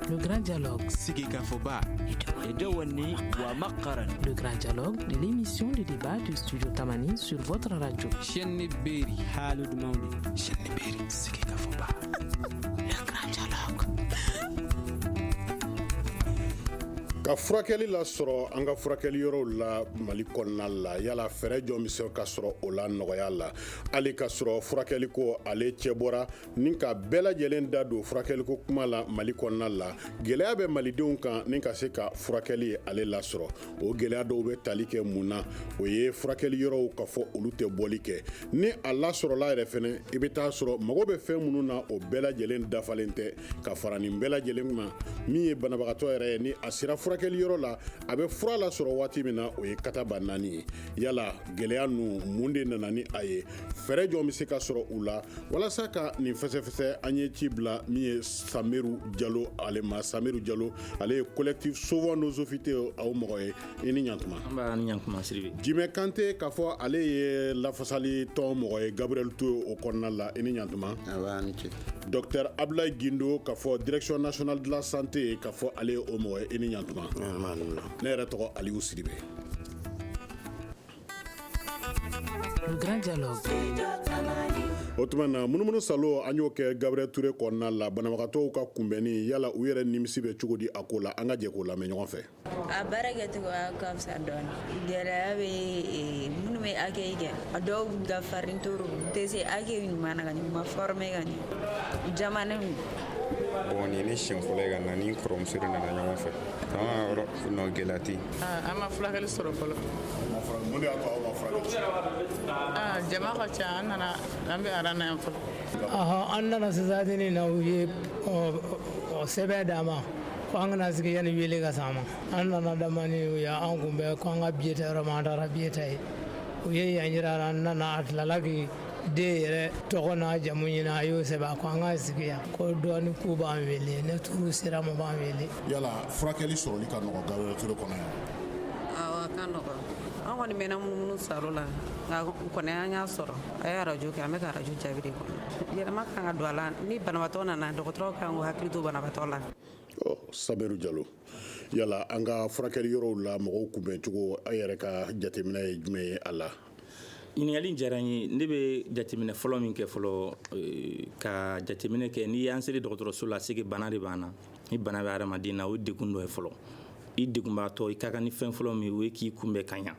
Le grand dialogue. Sigikafɔba. Edewani wa Makaran. Le grand dialogue, l'émission de débat du studio Tamani sur votre radio. Chenni Beri. Halud Mauni. Chenni Beri. Sigikafɔba. Le grand dialogue. ka furakɛli lasɔrɔ an ka furakɛli yɔrɔw la mali kɔnɔna la yala fɛɛrɛ jɔn bɛ se ka sɔrɔ o la nɔgɔya la hali ka sɔrɔ furakɛliko ale cɛ bɔra ni ka bɛɛ lajɛlen da don furakɛliko kuma la mali kɔnɔna la gɛlɛya bɛ malidenw kan ni ka se ka furakɛli ale lasɔrɔ o gɛlɛya dɔw bɛ tali kɛ mun na o ye furakɛli yɔrɔw k'a fɔ olu tɛ bɔli kɛ ni a lasɔrɔla yɛrɛ fɛnɛ i bɛ t'a sɔrɔ mago bɛ fɛn minnu na o bɛɛ lajɛlen dafalen tɛ ka fara nin bɛɛ lajɛlen ma min ye banabagatɔ yɛrɛ ye ni a sera furakɛli yɔrɔ la a bɛ fura lasɔrɔ waati min na o ye katabanaani ye yala gɛlɛya ninnu mun de nana ni a ye fɛɛrɛ jɔn bɛ se ka sɔrɔ u la walasa ka nin fɛsɛfɛsɛ an ye ci bila min ye samiru jalo ale ma samiru jalo ale ye collectif sauvons nos hôpitaux o mɔgɔ ye i ni ɲantuma nba i ni ɲantuma sidibe jimɛ kante k'a fɔ ale ye lafasali tɔn mɔgɔ ye gabriel ture o kɔnɔna la i ni ɲantuma nba i ni ce docteur abdoulaye guindo k'a fɔ direction nationale de la santé k'a fɔ ale ye o mɔgɔ ye i ni ɲantuma ne yɛrɛ tɔgɔ aliyu sidibe o tuma na munumunu saalo an y'o kɛ gabriel ture kɔnɔna la banabagatɔw ka kunbɛnni yala u yɛrɛ nimisi bɛ cogo di a ko la an ka jɛ k'o lamɛn ɲɔgɔn fɛ a baara kɛcogoya ka fisa dɔɔni gɛlɛya bɛ eh, minnu bɛ accueil kɛ a dɔw ka farin trop u tɛ se accueil ɲuman na ka ɲɛ u ma former ka ɲɛ jamana bon nin ye ne siɲɛ fɔlɔ ye ka na ni kɔrɔmuso de nana ɲɔgɔn fɛ an ka yɔrɔ nɔ gɛlɛya tɛ yen an ma furakɛli sɔrɔ fɔlɔ jama ka ca an nana an bɛ aran na yan fɔlɔ an nana sisan in na u ye sɛbɛn d'an ma ko an ka na sigi yanni wele ka s'an ma an nana damani u ye an kunbɛn ko an ka biye ta yɔrɔ ma an taara biye ta yen u ye yan jira an nana a tilala k'i den yɛrɛ tɔgɔ n'a jamu ɲini a y'o sɛbɛn a ko an ka sigi yan ko dɔɔni k'u b'an wele ni turu sera an ma u b'an wele yala furakɛli sɔrɔli ka nɔgɔ gabriel ture kɔnɔ yan awɔ a ka nɔgɔ an kɔni mɛnna munumunu saalo la nka kɔni an y'a sɔrɔ a ye arajo kɛ an bɛ ka arajo jaabi de kɔnɔ yɛlɛma kan ka don a la ni banabaatɔ nana dɔgɔtɔrɔw kan k'u hakili to banabaatɔ la samiru jalo yala an ka furakɛli yɔrɔw la mɔgɔw kunbɛn cogo a yɛrɛ ka jateminɛ ye jumɛn ye a la ɲininkali diyara n ye ne bɛ jateminɛ fɔlɔ min kɛ fɔlɔ eh, ka jateminɛ kɛ n'i y'an seli dɔgɔtɔrɔso la c'est que bana de b'an na ni bana bɛ adamaden na o degun dɔ ye fɔlɔ i degunbaatɔ i ka kan ni fɛn fɔlɔ min o ye k'i kunbɛn ka ɲa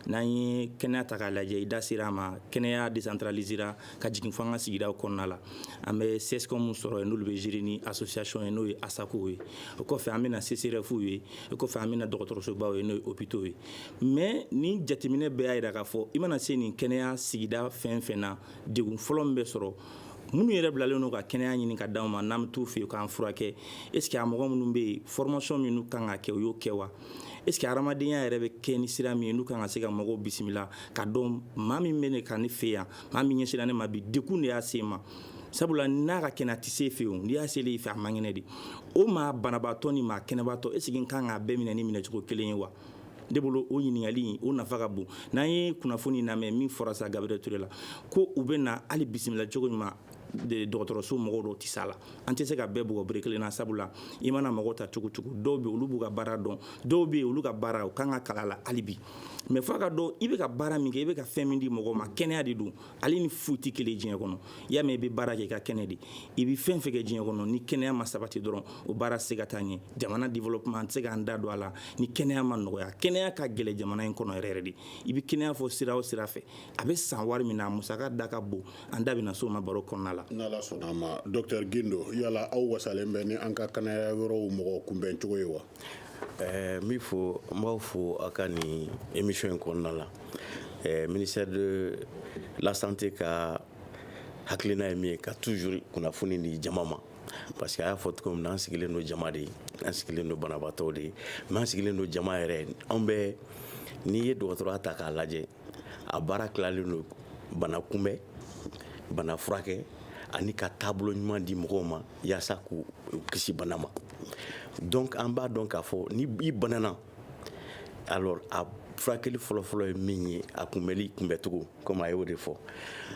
n'an ye kɛnɛya ta k'a lajɛ i da sera a ma kɛnɛya décentralisera ka jigin fo an ka sigidaw kɔnɔna la an bɛ CSCOMw sɔrɔ yen n'olu bɛ gérer ni association ye n'o ye ASACOw ye o kɔfɛ an bɛna CSREFw ye o kɔfɛ an bɛna dɔgɔtɔrɔsobaw ye n'o ye hôpitaux ye mais ni jateminɛ bɛɛ y'a jira k'a fɔ i mana se nin kɛnɛya sigida fɛn fɛn na degun fɔlɔ min bɛ sɔrɔ minnu yɛrɛ bilalen don ka kɛnɛya ɲini ka d'anw ma n'an bɛ t'u fɛ yen k'an furakɛ est ce que a mɔgɔ minnu bɛ yen formation min n'u kan ka kɛ u y'o kɛ wa est ce que hadamadenya yɛrɛ bɛ kɛ ni sira min ye n'u kan ka se ka mɔgɔw bisimila ka dɔn maa min bɛ ka na ne fɛ yan maa min ɲɛsira ne ma bi degun de y'a se n ma sabula n'a ka kɛnɛ a tɛ se fewu n'i y'a selen i fɛ a man kɛnɛ de o maa banabaatɔ ni maa kɛnɛbaatɔ est ce que n kan k'a bɛɛ minɛ ni minɛcogo kelen ye wa ne bolo o ɲininkali o nafa ka bon n'an ye kunnafoni lamɛn min fɔra sa Gabriel Touré la ko u bɛ na hali bisimila cogo ɲuman dɔgɔtɔrɔso mɔgɔw dɔw tɛ s'a la an tɛ se ka bɛɛ bugɔ bere kelen na sabula i mana mɔgɔw ta cogo cogo dɔw bɛ olu b'u ka baara dɔn dɔw bɛ olu ka baara u kan ka kalan a la hali bi mais f'a ka dɔn i bɛ ka baara min kɛ i bɛ ka fɛn min di mɔgɔ ma kɛnɛya de don ale ni foyi tɛ kelen diɲɛ kɔnɔ i y'a mɛn i bɛ baara kɛ i ka kɛnɛ de i bɛ fɛn fɛn kɛ diɲɛ kɔnɔ ni kɛnɛya ma sabati dɔrɔn o baara tɛ se ka taa ɲɛ jamana développement an tɛ se k'an da don a la ni kɛnɛya ma nɔgɔya kɛnɛya ka gɛlɛn jamana in kɔnɔ yɛrɛ yɛrɛ de i bɛ kɛnɛya fɔ sira o sira fɛ a bɛ san wari min na a musaka da ka bon an da bɛna s'o ma baro kɔnɔna la n'ala sɔnna a ma docteur Guindo yala aw wasalen bɛ ni an ka kɛnɛya yɔrɔw mɔgɔ kunbɛn cogo ye wa Ɛɛ n b'i fo n b'aw fo a ka nin émission in kɔnɔna la ɛɛ ministère de la santé ka hakilina ye min ye ka toujours kunnafoni di jama ma parce que a y'a fɔ cogo min na an sigilen don jama de ye an sigilen don banabaatɔw de ye mais an sigilen don jama yɛrɛ anw bɛ n'i ye dɔgɔtɔrɔya ta k'a lajɛ a baara tilalen don bana kunbɛn bana furakɛ ani ka taabolo ɲuman di mɔgɔw ma yaasa k'u kisi bana ma donc an b'a dɔn k'a fɔ ni i banana alors a furakɛli fɔlɔfɔlɔ ye min ye a kunbɛli kunbɛcogo comme a y'o de fɔ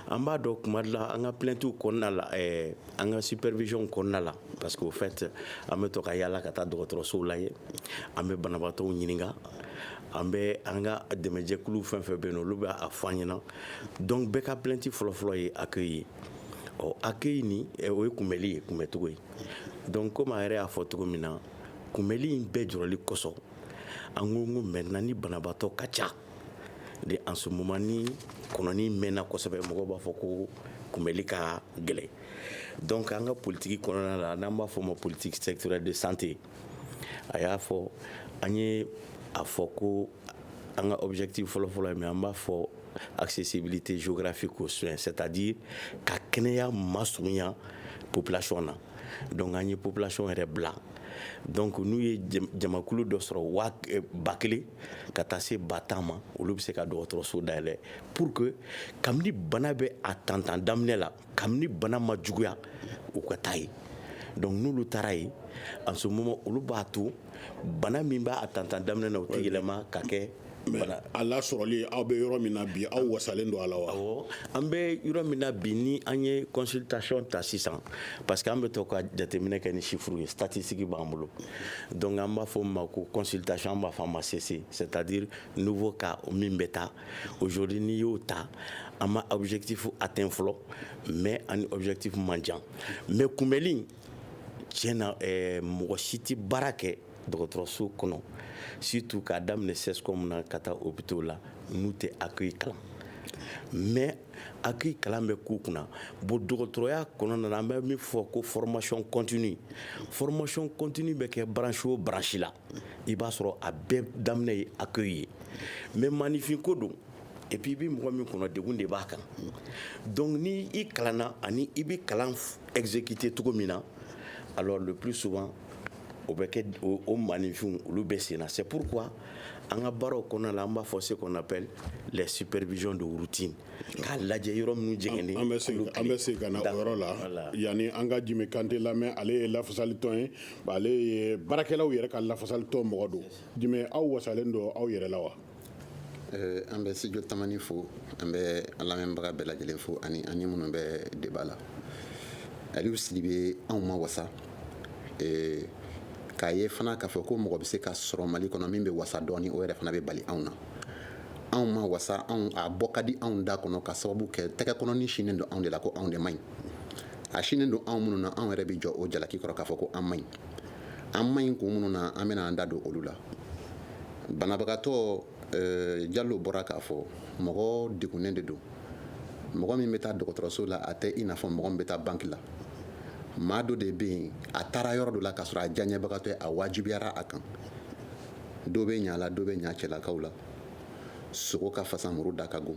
an b'a dɔn kuma dɔ la an ka plaintes kɔnɔna la eh, an ka supervision kɔnɔna la parce que au fait an bɛ to ka yaala ka taa dɔgɔtɔrɔsow la yen an bɛ banabaatɔw ɲininka an bɛ an ka dɛmɛjɛkulu fɛn fɛn bɛ yen olu bɛ a fɔ an ɲɛna donc bɛɛ ka plainte fɔlɔfɔlɔ ye accueil ye ɔ accueil nin eh, o ye kunbɛli ye kunbɛcogo ye donc comme a yɛrɛ y'a fɔ cogo min na kunbɛli in bɛɛ jɔrɔli kosɔn an ko ko maintenant ni banabaatɔ ka ca de en ce moment ni kɔnɔni mɛnna kosɛbɛ mɔgɔw b'a fɔ ko kunbɛli ka gɛlɛn donc an ka politique kɔnɔna la n'an b'a fɔ o ma politique sectorielle de santé a y'a fɔ an ye a fɔ ko an ka objectif fɔlɔfɔlɔ ye min an b'a fɔ accessibilité géographique aux soins c'est à dire ka kɛnɛya masurunya population na donc an ye population yɛrɛ bila donc n'u ye jamakulu dɔ sɔrɔ waa eh, ba kelen ka taa se ba tan ma olu bɛ se ka dɔgɔtɔrɔso dayɛlɛ pour que kabini bana bɛ a tantan daminɛ la kabini bana ma juguya u ka taa ye donc n'olu taara ye en ce moment olu b'a to bana min b'a tantan daminɛ na o tɛ yɛlɛma ka kɛ bana a lasɔrɔli aw bɛ yɔrɔ min na bi aw wasalen don a la wa awɔ an bɛ yɔrɔ min na bi ni an ye consultation ta sisan parce que an bɛ to ka jateminɛ kɛ ni chiffres ye statistique b'an bolo donc an b'a fɔ min ma ko consultation an b'a fɔ a ma CC c'est à dire nouveau cas min bɛ taa Aujourd'hui n'i y'o ta an ma objectif atteint fɔlɔ mais an ni objectif man jan mais kunbɛli in tiɲɛ na eh, mɔgɔ si tɛ baara kɛ dɔgɔtɔrɔso kɔnɔ surtout k'a daminɛ CSCOM na ka taa hôpitaux la n'u tɛ accueil kalan mais accueil kalan bɛ k'u kunna bon dɔgɔtɔrɔya kɔnɔna na an bɛ min fɔ ko formation continue formation continue bɛ kɛ branche o branche la i b'a sɔrɔ a bɛɛ daminɛ ye accueil ye mais maaninfin ko don et puis i bɛ mɔgɔ min kɔnɔ degun de b'a kan donc ni i kalanna ani i bɛ kalan exécuter cogo min na alors le plus souvent o bɛ kɛ o maaninfinw olu bɛ sen na c'est pourquoi an ka baaraw kɔnɔna la an b'a fɔ ce qu'on appelle les supervisions de routine k'a lajɛ yɔrɔ minnu jɛngɛnnen an bɛ segin an bɛ segin ka na o yɔrɔ la yanni an ka Djime Kante lamɛn ale ye lafasalitɔn ye ale ye baarakɛlaw yɛrɛ ka lafasalitɔn mɔgɔ don Djime aw wasalen don aw yɛrɛ la wa eh, an bɛ Studio Tamani fo an bɛ an lamɛnbaga bɛɛ lajɛlen fo ani ani minnu bɛ débat la Aliou Sidibe anw ma wasa eh, k'a ye fana k'a fɔ ko mɔgɔ bɛ se ka sɔrɔ Mali kɔnɔ min bɛ wasa dɔɔni o yɛrɛ fana bɛ bali anw na anw ma wasa anw a bɔ ka di anw da kɔnɔ ka sababu kɛ tɛgɛkɔnɔni sinnen don anw de la ko anw de man ɲi a sinnen don anw minnu na anw yɛrɛ bɛ jɔ o jalaki kɔrɔ k'a fɔ ko an man ɲi an man ɲi kun minnu na an bɛna an da don olu la banabagatɔ eh, Diallo bɔra k'a fɔ mɔgɔ degunnen de don mɔgɔ min bɛ taa dɔgɔtɔrɔso la a tɛ i n'a fɔ mɔgɔ min bɛ taa banque la maa dɔ de bɛ yen a taara yɔrɔ dɔ la k'a sɔrɔ a diyaɲɛbagatɔ ye a wajibiyara a kan dɔ bɛ ɲa la dɔ bɛ ɲa cɛlakaw la sogo ka fasa muru da ka go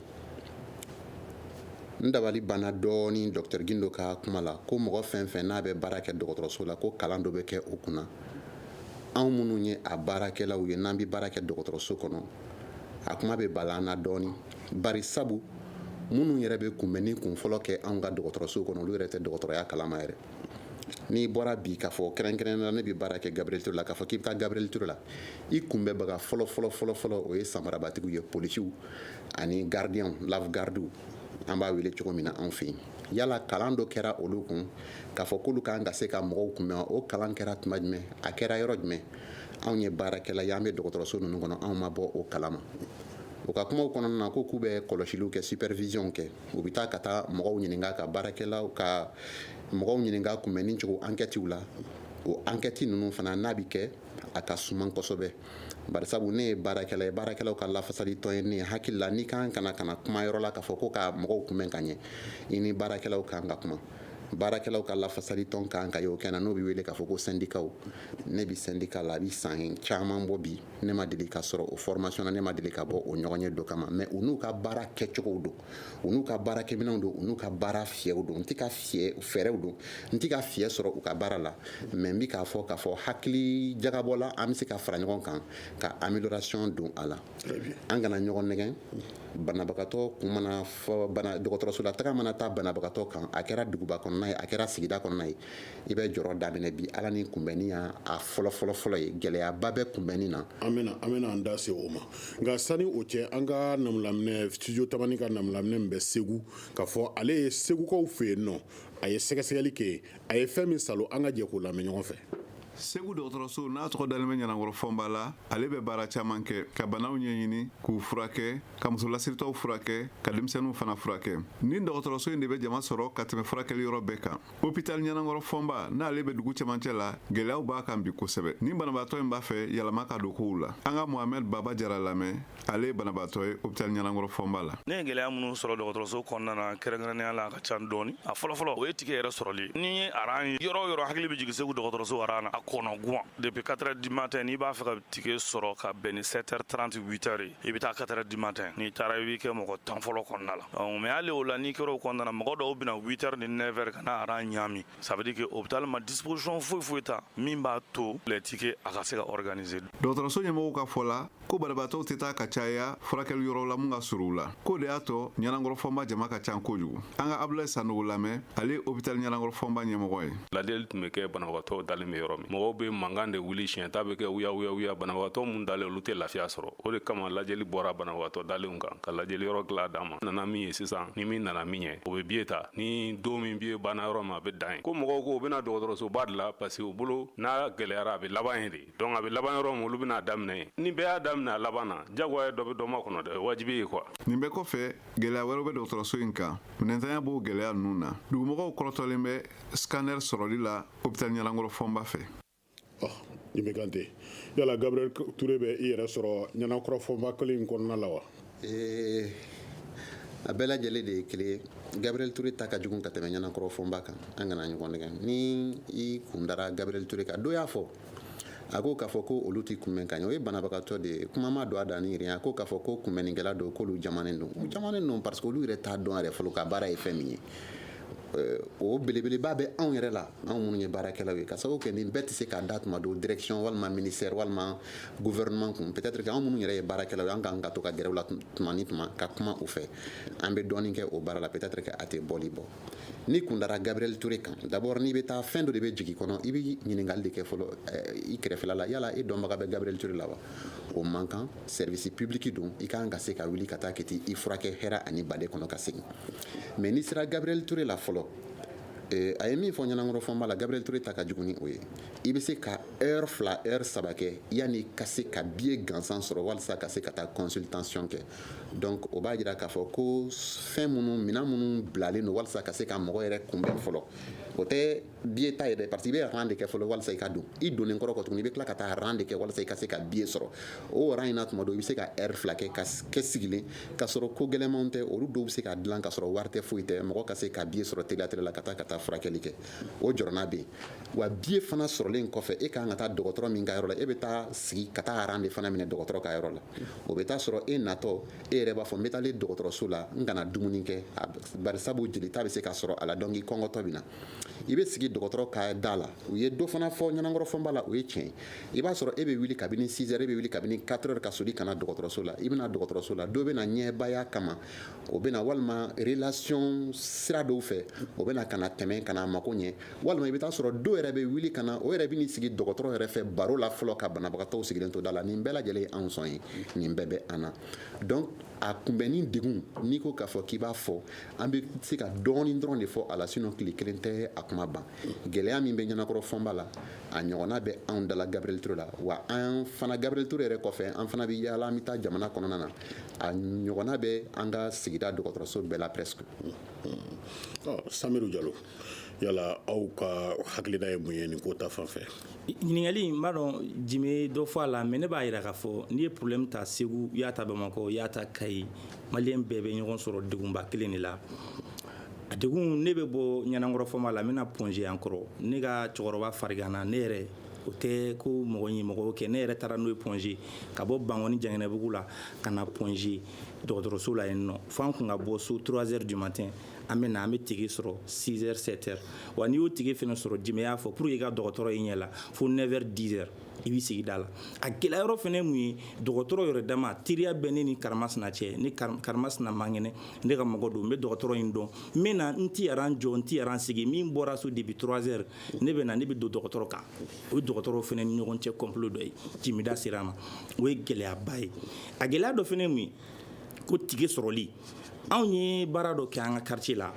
n dabali banna dɔɔni docteur Guindo ka kuma la ko mɔgɔ fɛn fɛn n'a bɛ baara kɛ dɔgɔtɔrɔso la ko kalan dɔ bɛ kɛ o kunna anw minnu ye a baarakɛlaw ye n'an bɛ baara kɛ dɔgɔtɔrɔso kɔnɔ a kuma bɛ bala an na dɔɔni bari sabu minnu yɛrɛ bɛ kunbɛnni kunfɔlɔ kɛ anw ka dɔgɔtɔrɔso kɔnɔ olu yɛrɛ tɛ dɔgɔtɔrɔya kalama yɛrɛ n'i bɔra bi k'a fɔ kɛrɛnkɛrɛn na ne bɛ baara kɛ gabriel ture la k'a fɔ k'i bɛ taa gabriel ture la i kunbɛnbaga fɔlɔ fɔlɔ fɔlɔ fɔlɔ o ye samarabatigiw ye polisiw ani garidiyanw lave gardiw an b'a wele cogo min na anw fɛ yen yala kalan dɔ kɛra olu kun k'a fɔ k'olu kan ka se ka mɔgɔw kunbɛn o kalan kɛra tuma jumɛn a kɛra yɔrɔ jumɛn anw ye baarakɛla ye an bɛ dɔgɔtɔrɔso ninnu kɔnɔ anw ma bɔ o kalama u ka kumaw kɔnɔna na ko k'u bɛ kɔlɔsiliw kɛ supervision kɛ u bɛ taa ka taa mɔgɔw ɲininka ka baarakɛlaw ka mɔgɔw ɲininka kunbɛnni cogo ankɛtiw la o ankɛti ninnu fana n'a bɛ kɛ a ka suman kosɛbɛ bari sabu ne ye baarakɛla ye baarakɛlaw ka lafasali tɔn ye ne hakili la n'i kan ka na ka na kuma yɔrɔ la k'a fɔ ko ka mɔgɔw kunbɛn ka ɲɛ i ni baarakɛlaw kan ka kuma baarakɛlaw ka lafasali tɔn kan ka y'o kɛ na n'o bɛ wele k'a fɔ ko sɛndikaw ne bɛ sɛndika la a bɛ san caman bɔ bi ne ma deli ka sɔrɔ o formation na ne ma deli ka bɔ o ɲɔgɔnye dɔ kalama mais u n'u ka baara kɛcogow don u n'u ka baarakɛminɛnw don u n'u ka baara fiyɛ fɛɛrɛw don n tɛ ka fiyɛ sɔrɔ u ka baara la mais n bɛ k'a fɔ k'a fɔ hakili jagabɔ la an bɛ se ka fara ɲɔgɔn kan ka amélioration don a la an kana ɲɔgɔn nɛgɛn banabagatɔ kun mana fɔ bana dɔgɔtɔrɔso la taga mana da banabagatɔ kan a kɛra duguba kɔnɔna ye a kɛra sigida kɔnɔna ye i bɛ jɔrɔ daminɛ bi ala ni kunbɛnni y'a fɔlɔ fɔlɔ fɔlɔ ye gɛlɛyaba bɛ kunbɛnni na an bɛna an bɛna an da se o ma nka sani o cɛ an ka namulaminɛ studio tamani ka namulaminɛ min bɛ segu k'a fɔ ale ye segukaw fɛ yen nɔ a ye sɛgɛsɛgɛli kɛ yen a ye fɛn min salo an ka jɛ k'o lamɛn ɲɔgɔn fɛ segu dɔgɔtɔrɔso n'a tɔgɔ dalen bɛ ɲanankɔrɔ fɔnba la ale bɛ baara caman kɛ ka banaw ɲɛɲini k'u furakɛ ka musolasiritɔw furakɛ ka denmisɛnninw fana furakɛ nin dɔgɔtɔrɔso in de bɛ jama sɔrɔ ka tɛmɛ furakɛli yɔrɔ bɛɛ kan Hopital ɲanankɔrɔ fɔnba n'ale bɛ dugu cɛmancɛ la gɛlɛyaw b'a kan bi kosɛbɛ ni banabaatɔ in b'a fɛ yɛlɛma ka don kow la an ka mohamɛd baba jara lamɛn ale ye banabaatɔ ye hopital ɲanankɔrɔ fɔnba la ne ye gɛlɛya minnu sɔrɔ dɔgɔtɔrɔso kɔnɔna na kɛrɛnkɛrɛnnenya la a ka can dɔɔni a fɔlɔfɔlɔ o ye tike yɛrɛ sɔrɔli n'i ye aran ye yɔrɔ o yɔrɔ hakili bɛ jigin segu dɔgɔtɔrɔso aran na a kɔnɔgwan depuis 4 heures du matin n'i b'a fɛ ka tike sɔrɔ ka bɛn ni 7 heures 30 8 heures ye i bɛ taa 4 heures du matin n'i taara i b'i kɛ mɔgɔ tan fɔlɔ kɔnɔna la mais hali o la n'i kɛra o kɔnɔna mɔgɔ dɔw bɛ na 8 heures ni 9 heures ka na aran ɲaami ça veut dire que hopital ma disposition foyi foyi ta min b'a to les tickets a ka se ka organiser dɔgɔtɔrɔso ɲɛmɔgɔw ka fɔ la ko banabaatɔw tɛ taa ka caya furakɛli yɔrɔ la min ka surun u la k'o de y'a to ɲanankɔrɔ fɔnba jama ka ca kojugu an ka abudulayi sanɔgɔ lamɛn ale ye hopital ɲanankɔrɔ fɔnba ɲɛmɔgɔ ye lajɛli tun bɛ kɛ banabagatɔw dalen bɛ yɔrɔ min mɔgɔw bɛ mankan de wuli siɲɛta bɛ kɛ wuya wuya wuya banabagatɔ minnu dalen olu tɛ lafiya sɔrɔ o de kama lajɛli bɔra banabagatɔ dalenw kan ka lajɛli yɔrɔ tila d'a ma nana min ye sisan ni min nana min ɲɛ o bɛ biye ta ni don min biye banna yɔrɔ min a bɛ dan yen ko mɔgɔw ko u bɛ na dɔgɔtɔrɔsoba de la parce que u bolo n'a gɛlɛyara a bɛ laban yen de donc a bɛ laban yɔrɔ min olu bɛna a daminɛ yen ni bɛɛ y'a daminɛ a laban na jagoya dɔ bɛ dɔ makɔnɔ dɛ wajibi ye quoi nin bɛɛ kɔfɛ gɛlɛya wɛrɛw bɛ dɔgɔtɔrɔso in kan minɛntanya b'o gɛlɛya ninnu na dugumɔgɔw kɔrɔtɔlen bɛ scanner sɔrɔli la hôpital ɲanankɔrɔ fɔnba fɛ Jimɛ Kante yala gabriel ture bɛ i yɛrɛ sɔrɔ ɲanankɔrɔ fɔnba kelen in kɔnɔna la wa ee a bɛɛ lajɛlen de ye kelen ye gabriel ture ta ka jugu ka tɛmɛ ɲanankɔrɔ fɔnba kan an kana ɲɔgɔn nɛgɛn ni i kun dara gabriel ture kan dɔ y'a fɔ a ko k'a fɔ ko olu tɛ kunbɛn ka ɲɛ o ye banabagatɔ de ye kuma ma don a da ni a ko k'a fɔ ko kunbɛnnikɛla don k'olu jamannen don jamannen don parce que olu yɛrɛ t'a dɔn yɛrɛ fɔlɔ ka baara ye fɛn min ye Euh, o belebeleba bɛ anw yɛrɛ la anw minnu ye baarakɛlaw ye ka sababu kɛ nin bɛɛ tɛ se ka da tuma dɔ direction walima ministère walima gouvernement kun peut-être que anw minnu yɛrɛ ye baarakɛlaw ye an kan ka to ka gɛrɛ u la tuma ni tuma ka kuma u fɛ an bɛ dɔɔnin kɛ o baara la peut-être que a tɛ bɔli bɔ n'i kun dara Gabriel Toure kan d'abord n'i bɛ taa fɛn dɔ de bɛ jigin kɔnɔ i bɛ ɲininkali de kɛ fɔlɔ eh, i kɛrɛfɛla la yala i dɔnbaga bɛ Gabriel Toure la wa o man kan service public don i kan ka se ka wuli ka taa kɛ i furakɛ hɛrɛ ani baden kɔnɔ ka segin mais n'i sera gabriel ture la fɔlɔ eh, a ye min fɔ ɲanankɔrɔ fɔnba la gabriel ture ta ka jugu ni o ye i bɛ se ka heure fila heure saba kɛ yanni ka se ka biye gansan sɔrɔ walisa ka se ka taa consultation kɛ donc o b'a jira k'a fɔ ko fɛn minnu minɛn minnu bilalen don walisa ka se ka mɔgɔ yɛrɛ kunbɛn fɔlɔ o tɛ biye ta ye dɛ parce que i bɛ ran de kɛ fɔlɔ walasa i ka don i donnen kɔrɔ kɔ tuguni i bɛ tila ka taa ran de kɛ walasa i ka se ka biye sɔrɔ o ran in na tuma dɔ i bɛ se ka ɛri fila kɛ ka kɛ sigilen ka sɔrɔ ko gɛlɛnmanw tɛ olu dɔw bɛ se ka dilan ka sɔrɔ wari tɛ foyi tɛ mɔgɔ ka se ka biye sɔrɔ teliya teliya la ka taa ka taa furakɛli kɛ o jɔrɔna bɛ yen wa biye fana sɔrɔlen kɔfɛ e kan ka taa dɔgɔtɔrɔ min ka yɔrɔ la e bɛ taa sigi ka taa ran de fana minɛ dɔgɔtɔrɔ ka yɔrɔ la o bɛ taa sɔrɔ e natɔ e yɛrɛ b'a fɔ n bɛ taalen dɔgɔtɔrɔso la n kana dumuni kɛ bari sabu jelita bɛ se ka sɔrɔ a la donc i kɔngɔtɔ bɛ na i bɛ sigi dɔgɔtɔrɔ ka da la u ye dɔ fana fɔ ɲanankɔrɔ fɔnba la o ye tiɲɛ i b'a sɔrɔ e bɛ wuli kabini sizɛri e bɛ wuli kabini katɛri ka soli ka na dɔgɔtɔrɔso la i bɛ na dɔgɔtɔrɔso la dɔ bɛ na ɲɛbaya kama o bɛ na walima relasiyɔn sira dɔw fɛ o bɛ na ka na tɛmɛ ka na mako ɲɛ walima i bɛ taa sɔrɔ dɔw yɛrɛ bɛ wuli ka na o yɛrɛ bɛ n'i sigi dɔgɔtɔrɔ yɛrɛ fɛ baro la fɔlɔ ka banabagatɔw sigilen to da la nin bɛɛ lajɛlen ye anw sɔn ye nin bɛɛ bɛ an na a kunbɛnni degun n'i ko k'a fɔ k'i b'a fɔ an bɛ se ka dɔɔnin dɔrɔn de fɔ a la sinɔn tile kelen tɛ a kuma ban gɛlɛya min bɛ ɲanankɔrɔ fɔnba la a ɲɔgɔnna bɛ anw da la gabriel ture la wa an fana gabriel ture yɛrɛ kɔfɛ an fana bɛ yaala an bɛ taa jamana kɔnɔna na a ɲɔgɔnna bɛ an ka sigida dɔgɔtɔrɔso bɛɛ la presque samiru jalo yala aw ka hakilina ye mun ye nin ko ta fan fɛ ɲininkali n b'a dɔn jime dɔ fɔ a la mais ne b'a yira k'a fɔ n'i ye problème ta segu y'a ta bamakɔ y'a ta kayi maliyɛn bɛɛ bɛ ɲɔgɔn sɔrɔ degunba kelen de la a degun ne bɛ bɔ ɲɛnakɔrɔ fɔma la n bɛna Point G an kɔrɔ ne ka cɛkɔrɔba fariganna ne yɛrɛ o tɛ ko mɔgɔ ye mɔgɔ kɛ ne yɛrɛ taara n'o ye Point G ka bɔ bankɔni janginɛbugu la ka na Point G dɔgɔtɔrɔso la yen nɔ fo an kun ka bɔ so 3 heures du matin an bɛ na an bɛ ticket sɔrɔ 6 heures 7 heures wa n'i y'o ticket fana sɔrɔ jimɛ y'a fɔ pour que i ka dɔgɔtɔrɔ y'i ɲɛ la fo 9 heures 10 heures i b'i sigi da la a gɛlɛya yɔrɔ fana mun ye dɔgɔtɔrɔ yɛrɛ dama teriya bɛ ne ni karamasina cɛ ni karamasina man kɛnɛ ne ka mɔgɔ don n bɛ dɔgɔtɔrɔ in dɔn n bɛ na n ti aran jɔ n ti aran sigi min bɔra so depuis 3 heures ne bɛ na ne bɛ don dɔgɔtɔrɔ kan o ye dɔgɔtɔrɔ fana ni ɲɔgɔn cɛ complot dɔ ye jimɛ da sera a ma o ye gɛlɛyaba ye a gɛlɛya dɔ fana mun ye ko ticket sɔrɔli anw ye baara dɔ kɛ an ka quartier la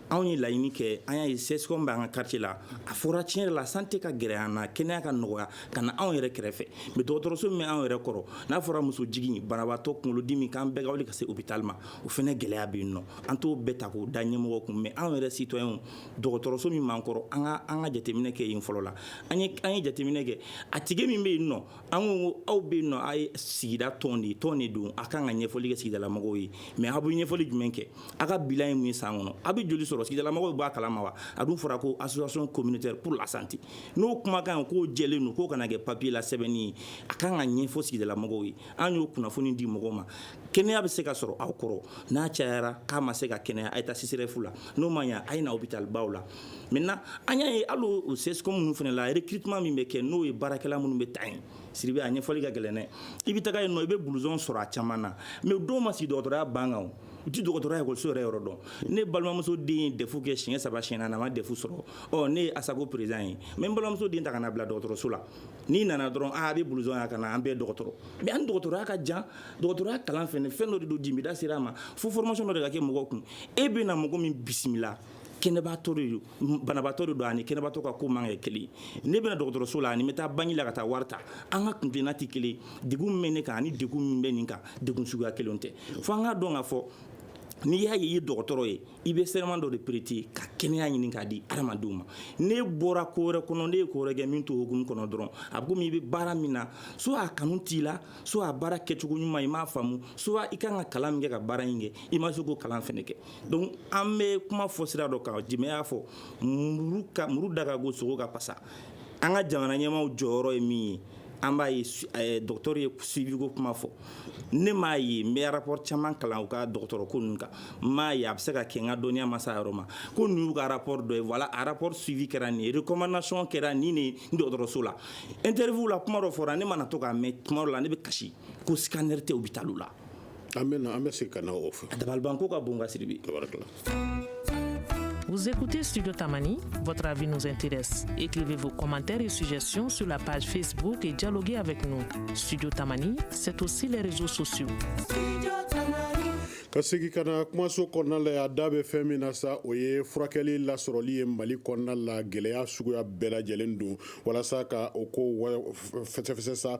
anw ye laɲini kɛ an y'a ye CSCOM bɛ an ka quartier la a fɔra tiɲɛ yɛrɛ la santé ka gɛrɛ an na kɛnɛya ka nɔgɔya ka na anw yɛrɛ kɛrɛfɛ mais dɔgɔtɔrɔso min bɛ anw yɛrɛ kɔrɔ n'a fɔra muso jigin banabaatɔ kunkolodimi k'an bɛɛ ka wuli ka se hôpital ma o fana gɛlɛya bɛ yen nɔ an t'o bɛɛ ta k'o da ɲɛmɔgɔ kun mais anw yɛrɛ citoyen dɔgɔtɔrɔso min b'an kɔrɔ an ka an ka jateminɛ kɛ yen fɔlɔ la an ye jateminɛ kɛ a tigi min bɛ yen nɔ an ko ko aw bɛ yen nɔ a ye sigida tɔn de ye tɔn de don a kan ka ɲɛfɔli kɛ sigidalamɔgɔw ye mais aw bɛ ɲɛfɔli jumɛn kɛ a ka bilan ye mun ye san kɔnɔ a bɛ joli sɔrɔ sigidalamɔgɔw b'a kalama wa a dun fɔra ko association communautaire pour la santé n'o kumakan ye k'o jɛlen don k'o kana kɛ papier la sɛbɛnni ye a kan ka ɲɛfɔ sigidalamɔgɔw ye an y'o kunnafoni di mɔgɔw ma kɛnɛya bɛ se ka sɔrɔ aw kɔrɔ n'a cayara k'a ma se ka kɛnɛya a ye taa CSREF la n'o ma ɲa a ye na hôpital baw la Maintenant an y'a ye hali o o CSCOM ninnu fana la recrutement min bɛ kɛ n'o ye baarakɛla minnu bɛ ta yen Sidibe a ɲɛfɔli ka gɛlɛn dɛ i bɛ taga yen nɔ i bɛ blouson sɔrɔ a caman na mais u dɔw ma sigi dɔgɔtɔrɔya banc kan o u tɛ dɔgɔtɔrɔya ekɔliso yɛrɛ yɔrɔ dɔn ne balimamuso den ye DEF kɛ siɲɛ saba siɲɛ naani a ma DEF sɔrɔ ɔ ne ye ASACO président ye n bɛ n balimamuso den ta ka na bila dɔgɔtɔrɔso la n'i nana dɔrɔn aa a bɛ blouson yan ka na an bɛɛ ye dɔgɔtɔrɔ mais a ni dɔgɔtɔrɔya ka jan dɔgɔtɔrɔya kalan fɛnɛ fɛn dɔ de don jime da sera a ma fo formation dɔ de ka kɛ mɔgɔw kun e bɛ na mɔgɔ min bisimila kɛnɛbaatɔ de don banabaatɔ de don ani kɛnɛbaatɔ ka ko man kɛ kelen ne bɛna dɔgɔtɔrɔso la ani bɛ taa banki la ka taa wari ta an ka kuntilenna tɛ kelen degun min bɛ ne kan ani degun min bɛ nin kan degun suguya kelen tɛ fo an k'a dɔn k'a fɔ n'i y'a ye i ye dɔgɔtɔrɔ ye i bɛ serment dɔ de prêter ka kɛnɛya ɲini k'a di adamadenw ma n'e bɔra ko wɛrɛ kɔnɔ n'e ye ko wɛrɛ kɛ min t'o hukumu kɔnɔ dɔrɔn a bɛ komi i bɛ baara min na soit a kanu t'i la soit a baara kɛcogo ɲuman i m'a faamu soit i kan ka kalan min kɛ ka baara in kɛ i ma se k'o kalan fɛnɛ kɛ donc an bɛ kuma fɔ sira dɔ kan jimɛ y'a fɔ muru da ka go sogo ka pasa an ka jamana ɲɛmaw jɔyɔrɔ ye min ye an b'a ye dɔgɔtɔrɔ ye suivi ko kuma fɔ ne m'a ye n bɛ rapport caman kalan u ka dɔgɔtɔrɔ ko ninnu kan n m'a ye a bɛ se ka kɛ n ka dɔnniya ma se a yɔrɔ ma ko ninnu y'u ka rapport dɔ ye voilà a rapport suivi kɛra nin ye recommandation kɛra nin de ye dɔgɔtɔrɔso la interview la kuma dɔ fɔra ne mana to k'a mɛn tuma dɔ la ne bɛ kasi ko scanner tɛ hôpital la An bɛ an bɛ se ka na o fɔ dabalibanko ka bon ka Sidibe Vous écoutez Studio Tamani, votre avis nous intéresse. Écrivez vos commentaires et suggestions sur la page Facebook et dialoguez avec nous. Studio Tamani, c'est aussi les réseaux sociaux. Studio Tamani. ka segi ka na kumaso kɔnɔna la yan an da bɛ fɛn min na sa o ye furakɛli lasɔrɔli ye mali kɔnɔna la gɛlɛya suguya bɛɛ lajɛlen don walasa ka o ko fɛsɛfɛsɛ sa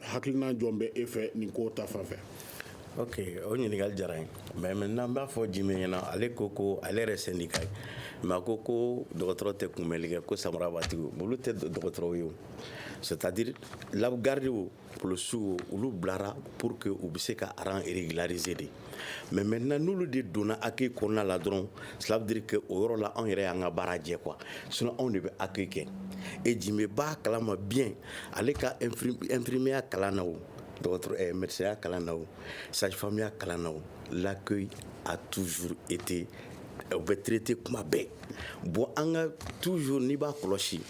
hakilina jɔn bɛ e fɛ nin ko ta fan fɛ ok o ɲininkali diyara n ye mais maintenant n b'a fɔ jimɛ ɲɛna ale ko ko ale yɛrɛ sendika ye mais a ko ko dɔgɔtɔrɔ tɛ kunbɛnli kɛ ko samarabatigiw olu tɛ dɔgɔtɔrɔw ye o c'est à dire la gardiw polisiw olu bilara pour que u bɛ se ka rang régulariser de mais maintenant n'olu de donna accueil kɔnɔna la dɔrɔn cela veut dire que o yɔrɔ la anw yɛrɛ y'an ka baara jɛ quoi sinon anw de bɛ accueil kɛ et jimɛ b'a kalama bien ale ka infirmiya kalan na o dɔgɔtɔrɔ eh, médecin ya kalan na o sage femme ya kalan na o l'accueil a toujours été eh, u bɛ traité kuma bɛɛ bon an ka toujours n'i b'a kɔlɔsi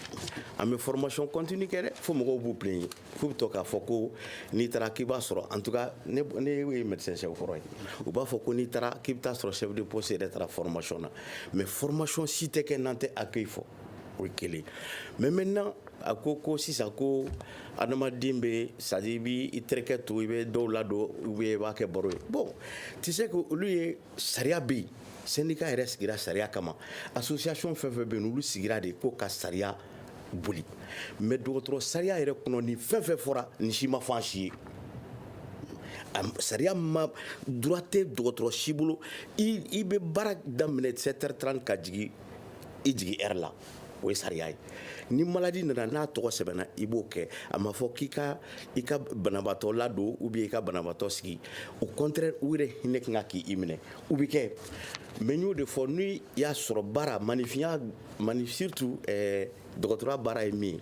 an bɛ formation continue kɛ dɛ fo mɔgɔw b'u plaigner k'u bɛ to k'a fɔ ko n'i taara k'i b'a sɔrɔ en tout cas ne ye médecin chef kɔrɔ ye u b'a fɔ ko n'i taara k'i bɛ taa sɔrɔ chef de poste yɛrɛ taara formation na mais formation si tɛ kɛ n'an tɛ accueil fɔ o ye kelen mais maintenant a ko ko sisan ko adamaden bɛ c'est à dire i b'i terikɛ to i bɛ dɔw ladon ou bien i b'a kɛ baro ye bon tu sais que olu ye sariya bɛ yen sendika yɛrɛ sigira sariya kama association fɛn fɛn bɛ yen olu sigira de ko ka sariya boli mais dɔgɔtɔrɔ sariya yɛrɛ kɔnɔ ni fɛn fɛn fɔra nin si ma fɔ an si ye sariya ma droit tɛ dɔgɔtɔrɔ si bolo i bɛ baara daminɛ sept heures trente ka jigin i jigin heure la o ye sariya ye ni malade nana n'a tɔgɔ sɛbɛnna i b'o kɛ a ma fɔ k'i ka i ka banabaatɔ ladon ou bien i ka banabaatɔ sigi au contraire u yɛrɛ hinɛ kan ka k'i minɛ u bɛ kɛ mais n y'o de fɔ n'i y'a sɔrɔ baara manifinya mani surtout eh, dɔgɔtɔrɔya baara ye min ye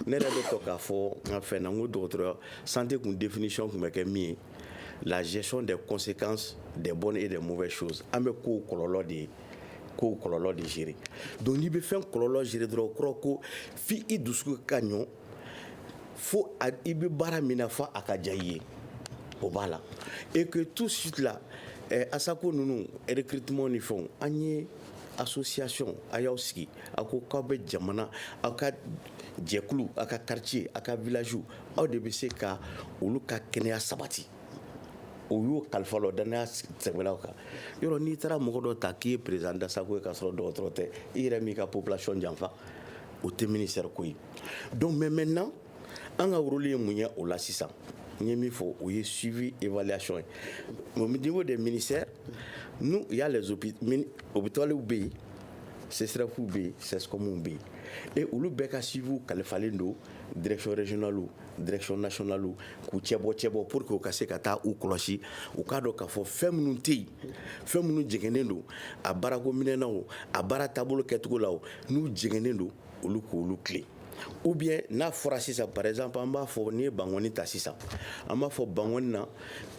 ne yɛrɛ bɛ to k'a fɔ n ka fɛn na n ko dɔgɔtɔrɔya santé kun définition kun bɛ kɛ min ye la gestion des conséquences des bonnes et des mauvaises choses an bɛ kow kɔlɔlɔ de ye ko kɔlɔlɔ de gérer donc n'i bɛ fɛn kɔlɔlɔ gérer dɔrɔn o kɔrɔ ko f'i i dusu ka ɲɔ fo i bɛ baara min na fo a ka diya i ye o b'a la et que tout de suite là eh, ASACO ninnu recrutement ni fɛnw an ye association a y'aw sigi a ko k'aw bɛ jamana aw ka jɛkulu aw ka quartier aw ka village aw de bɛ se ka olu ka kɛnɛya sabati o y'o kalifa la o danaya sɛbɛlaw kan yɔrɔ n'i taara mɔgɔ dɔ ta k'i ye président d'ASACO ye k'a sɔrɔ dɔgɔtɔrɔ tɛ i yɛrɛ m'i ka population janfa o tɛ ministère ko ye donc mais maintenant an ka rôle ye mun ye o la sisan n ye min fɔ o ye suivi évaluation ye au niveau des ministères nous il y a les hôpitaux bɛ yen CSREFw bɛ yen CSCOMw bɛ yen et olu bɛɛ ka suivi kalifalen don direction régionale direction nationale k'u cɛbɔ cɛbɔ pour que u ka se ka taa u kɔlɔsi u k'a dɔn k'a fɔ fɛn minnu tɛ yen fɛn minnu jɛngɛnnen don a baarako minɛn na o a baara taabolo kɛcogo la n'u jɛngɛnnen don olu k'olu tilen ou bien n'a fɔra sisan par exemple an b'a fɔ n'i ye Bankɔni ta sisan an b'a fɔ Bankɔni na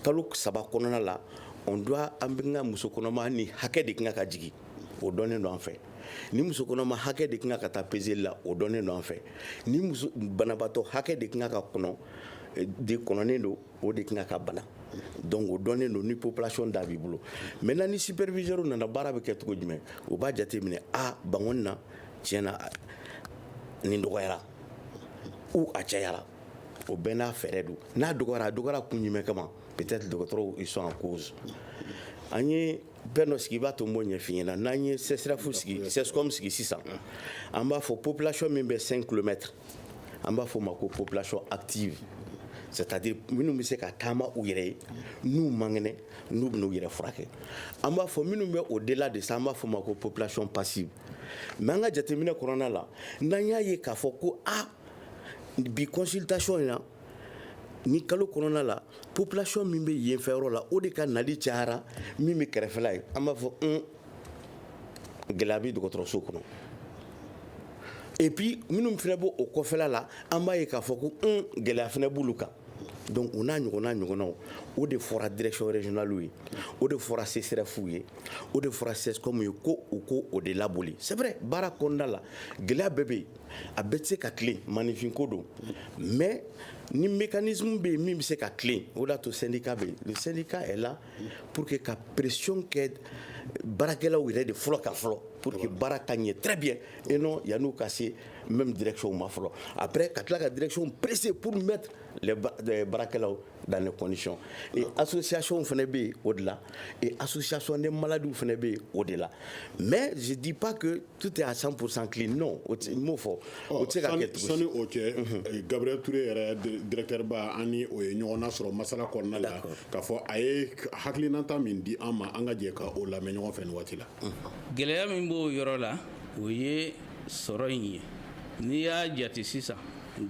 kalo saba kɔnɔna la on doit an bɛ ka muso kɔnɔma nin hakɛ de kan ka jigin o dɔnnen don an fɛ ni muso kɔnɔma hakɛ de kan ka taa peseli la o dɔnnen don an fɛ ni banabaatɔ hakɛ de kan ka kɔnɔ eh, de kɔnɔnen don o de kan ka bana donc o dɔnnen don ni population da b'i bolo maintenant ni superviseur nana baara bɛ kɛ cogo jumɛn o b'a jateminɛ a Bankɔni na tiɲɛ na nin dɔgɔyara ou a cayara o bɛɛ n'a fɛɛrɛ don n'a dɔgɔyara a dɔgɔyara kun jumɛn kama peut-être dɔgɔtɔrɔw ils sont en cause an ye bɛn dɔ sigi i b'a to n b'o ɲɛf'i ɲɛna n'an ye CSREF sigi CSCOM sigi sisan an b'a fɔ population min bɛ 5 kilomètres an b'a fɔ o ma ko population active c'est-à-dire minnu bɛ se ka taama u yɛrɛ ye n'u man kɛnɛ n'u bɛna u yɛrɛ furakɛ an b'a fɔ minnu bɛ au-delà de ça an b'a fɔ o ma ko population passive mais an ka jateminɛ kɔnɔna la n'an y'a ye k'a fɔ ko a ah, bi consultation in na ni kalo kɔnɔna la population min bɛ yen fɛ yɔrɔ la o de ka nali cayara min bɛ kɛrɛfɛla ye an b'a fɔ un gɛlɛya bɛ dɔgɔtɔrɔso kɔnɔ et puis minnu fana b'o kɔfɛla la an b'a ye k'a fɔ ko un gɛlɛya fana b'olu kan donc o n'a ɲɔgɔnna ɲɔgɔnnaw o de fɔra direction régionale ye o de fɔra CSREF ye o de fɔra CSCOM ye ko u ko o de laboli c'est vrai baara kɔnɔna la gɛlɛya bɛɛ bɛ yen a bɛɛ tɛ se ka tilen maaninfinko don mais ni mécanisme bɛ yen min bɛ se ka tilen o de y'a to syndicat bɛ yen le syndicat est là pour que ka pression kɛ baarakɛlaw yɛrɛ de fɔlɔ ka fɔlɔ pour que baara ka ɲɛ très bien et non yan'u ka se même direction ma fɔlɔ après ka tila ka direction presser pour mettre les baarakɛlaw dans les conditions et association fana bɛ yen o de la et association des maladies fana bɛ yen o de la mais je dis pas que tout est à 100% clean non o tɛ n m'o fɔ o tɛ se ka kɛ tugu sani o cɛ eh, Gabriel Toure yɛrɛ di- directeur ba an ni o ye ɲɔgɔn nasɔrɔ masala kɔnɔna la D'accord. k'a fɔ a ye hakilinata min di an ma an ka jɛ ka o lamɛn ɲɔgɔn fɛ nin waati la gɛlɛya min b'o yɔrɔ la o ye sɔrɔ in ye n'i y'a jate sisan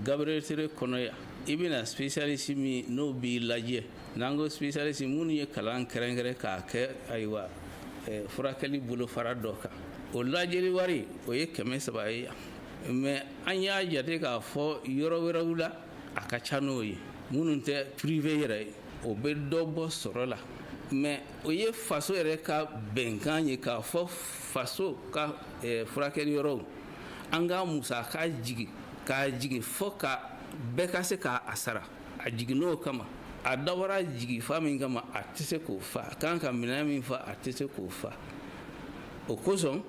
Gabriel Toure kɔnɔ yan i bɛna spécialiste min n'o b'i lajɛ n'an ko spécialiste minnu ye kalan kɛrɛnkɛrɛn k'a kɛ ayiwa eh, furakɛli bolofara dɔ kan o lajɛli wari o ye kɛmɛ saba ye yan mais an y'a jate k'a fɔ yɔrɔ wɛrɛw la a ka ca n'o ye minnu tɛ privé yɛrɛ ye o bɛ dɔ bɔ sɔrɔ la mais o ye faso yɛrɛ ka bɛnkan ye k'a fɔ faso ka eh, furakɛli yɔrɔw an ka musaka jigin k'a jigin fo ka bɛɛ ka se ka a sara a jiginn'o kama a dabɔra jigifa min kama a tɛ se k'o fa a kan ka minɛn min fa a tɛ se k'o fa o kosɔn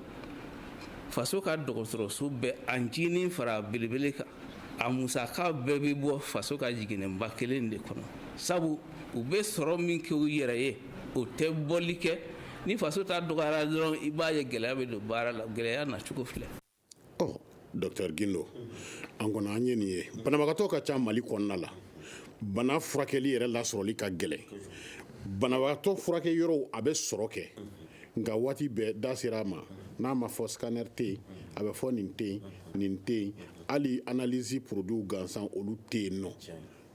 faso ka dɔgɔtɔrɔso bɛɛ a ncinin fara belebele kan a musaka bɛɛ bɛ bɔ faso ka jiginɛba kelen de kɔnɔ sabu u bɛ sɔrɔ min kɛ u yɛrɛ ye o tɛ bɔli kɛ ni faso ta dɔgɔyara dɔrɔn i b'a ye gɛlɛya bɛ don baara la gɛlɛya nacogo filɛ Docteur Gindo an kɔni an ye nin ye banabagatɔ ka ca Mali kɔnɔna la bana furakɛli yɛrɛ lasɔrɔli ka gɛlɛn banabagatɔ furakɛ yɔrɔw a bɛ sɔrɔ kɛ nka waati bɛɛ da sera a ma n'a ma fɔ scanner tɛ yen a bɛ fɔ nin tɛ yen nin tɛ yen hali analyse produitw gansan olu tɛ yen nɔ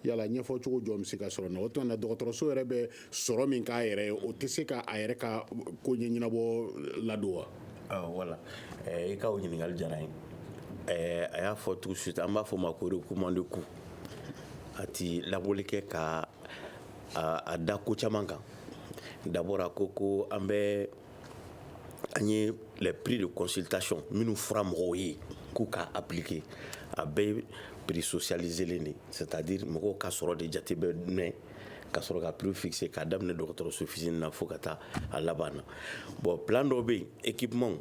yala ɲɛfɔ cogo jɔn bɛ se ka sɔrɔ na o tuma na dɔgɔtɔrɔso yɛrɛ bɛ sɔrɔ min k'a yɛrɛ ye o tɛ se ka a yɛrɛ ka koɲɛ ɲɛnabɔ ladon wa ah, voilà eh, i ka o ɲininkali diyara n ye a y'a fɔ tout de suite an b'a fɔ o ma ko recouvrement de coût a ti labɔli kɛ ka a da ko caman kan d'abord a ko ko an bɛ an ye les prix de consultation minnu fɔra mɔgɔw ye k'u ka appliquer a bɛɛ prix socialisélen de c'est-à-dire mɔgɔw ka sɔrɔ de jate bɛ minɛ ka sɔrɔ ka prix fixé k'a daminɛ dɔgɔtɔrɔso fitinin na fo ka taa a laban na bon plan dɔw bɛ yen équipement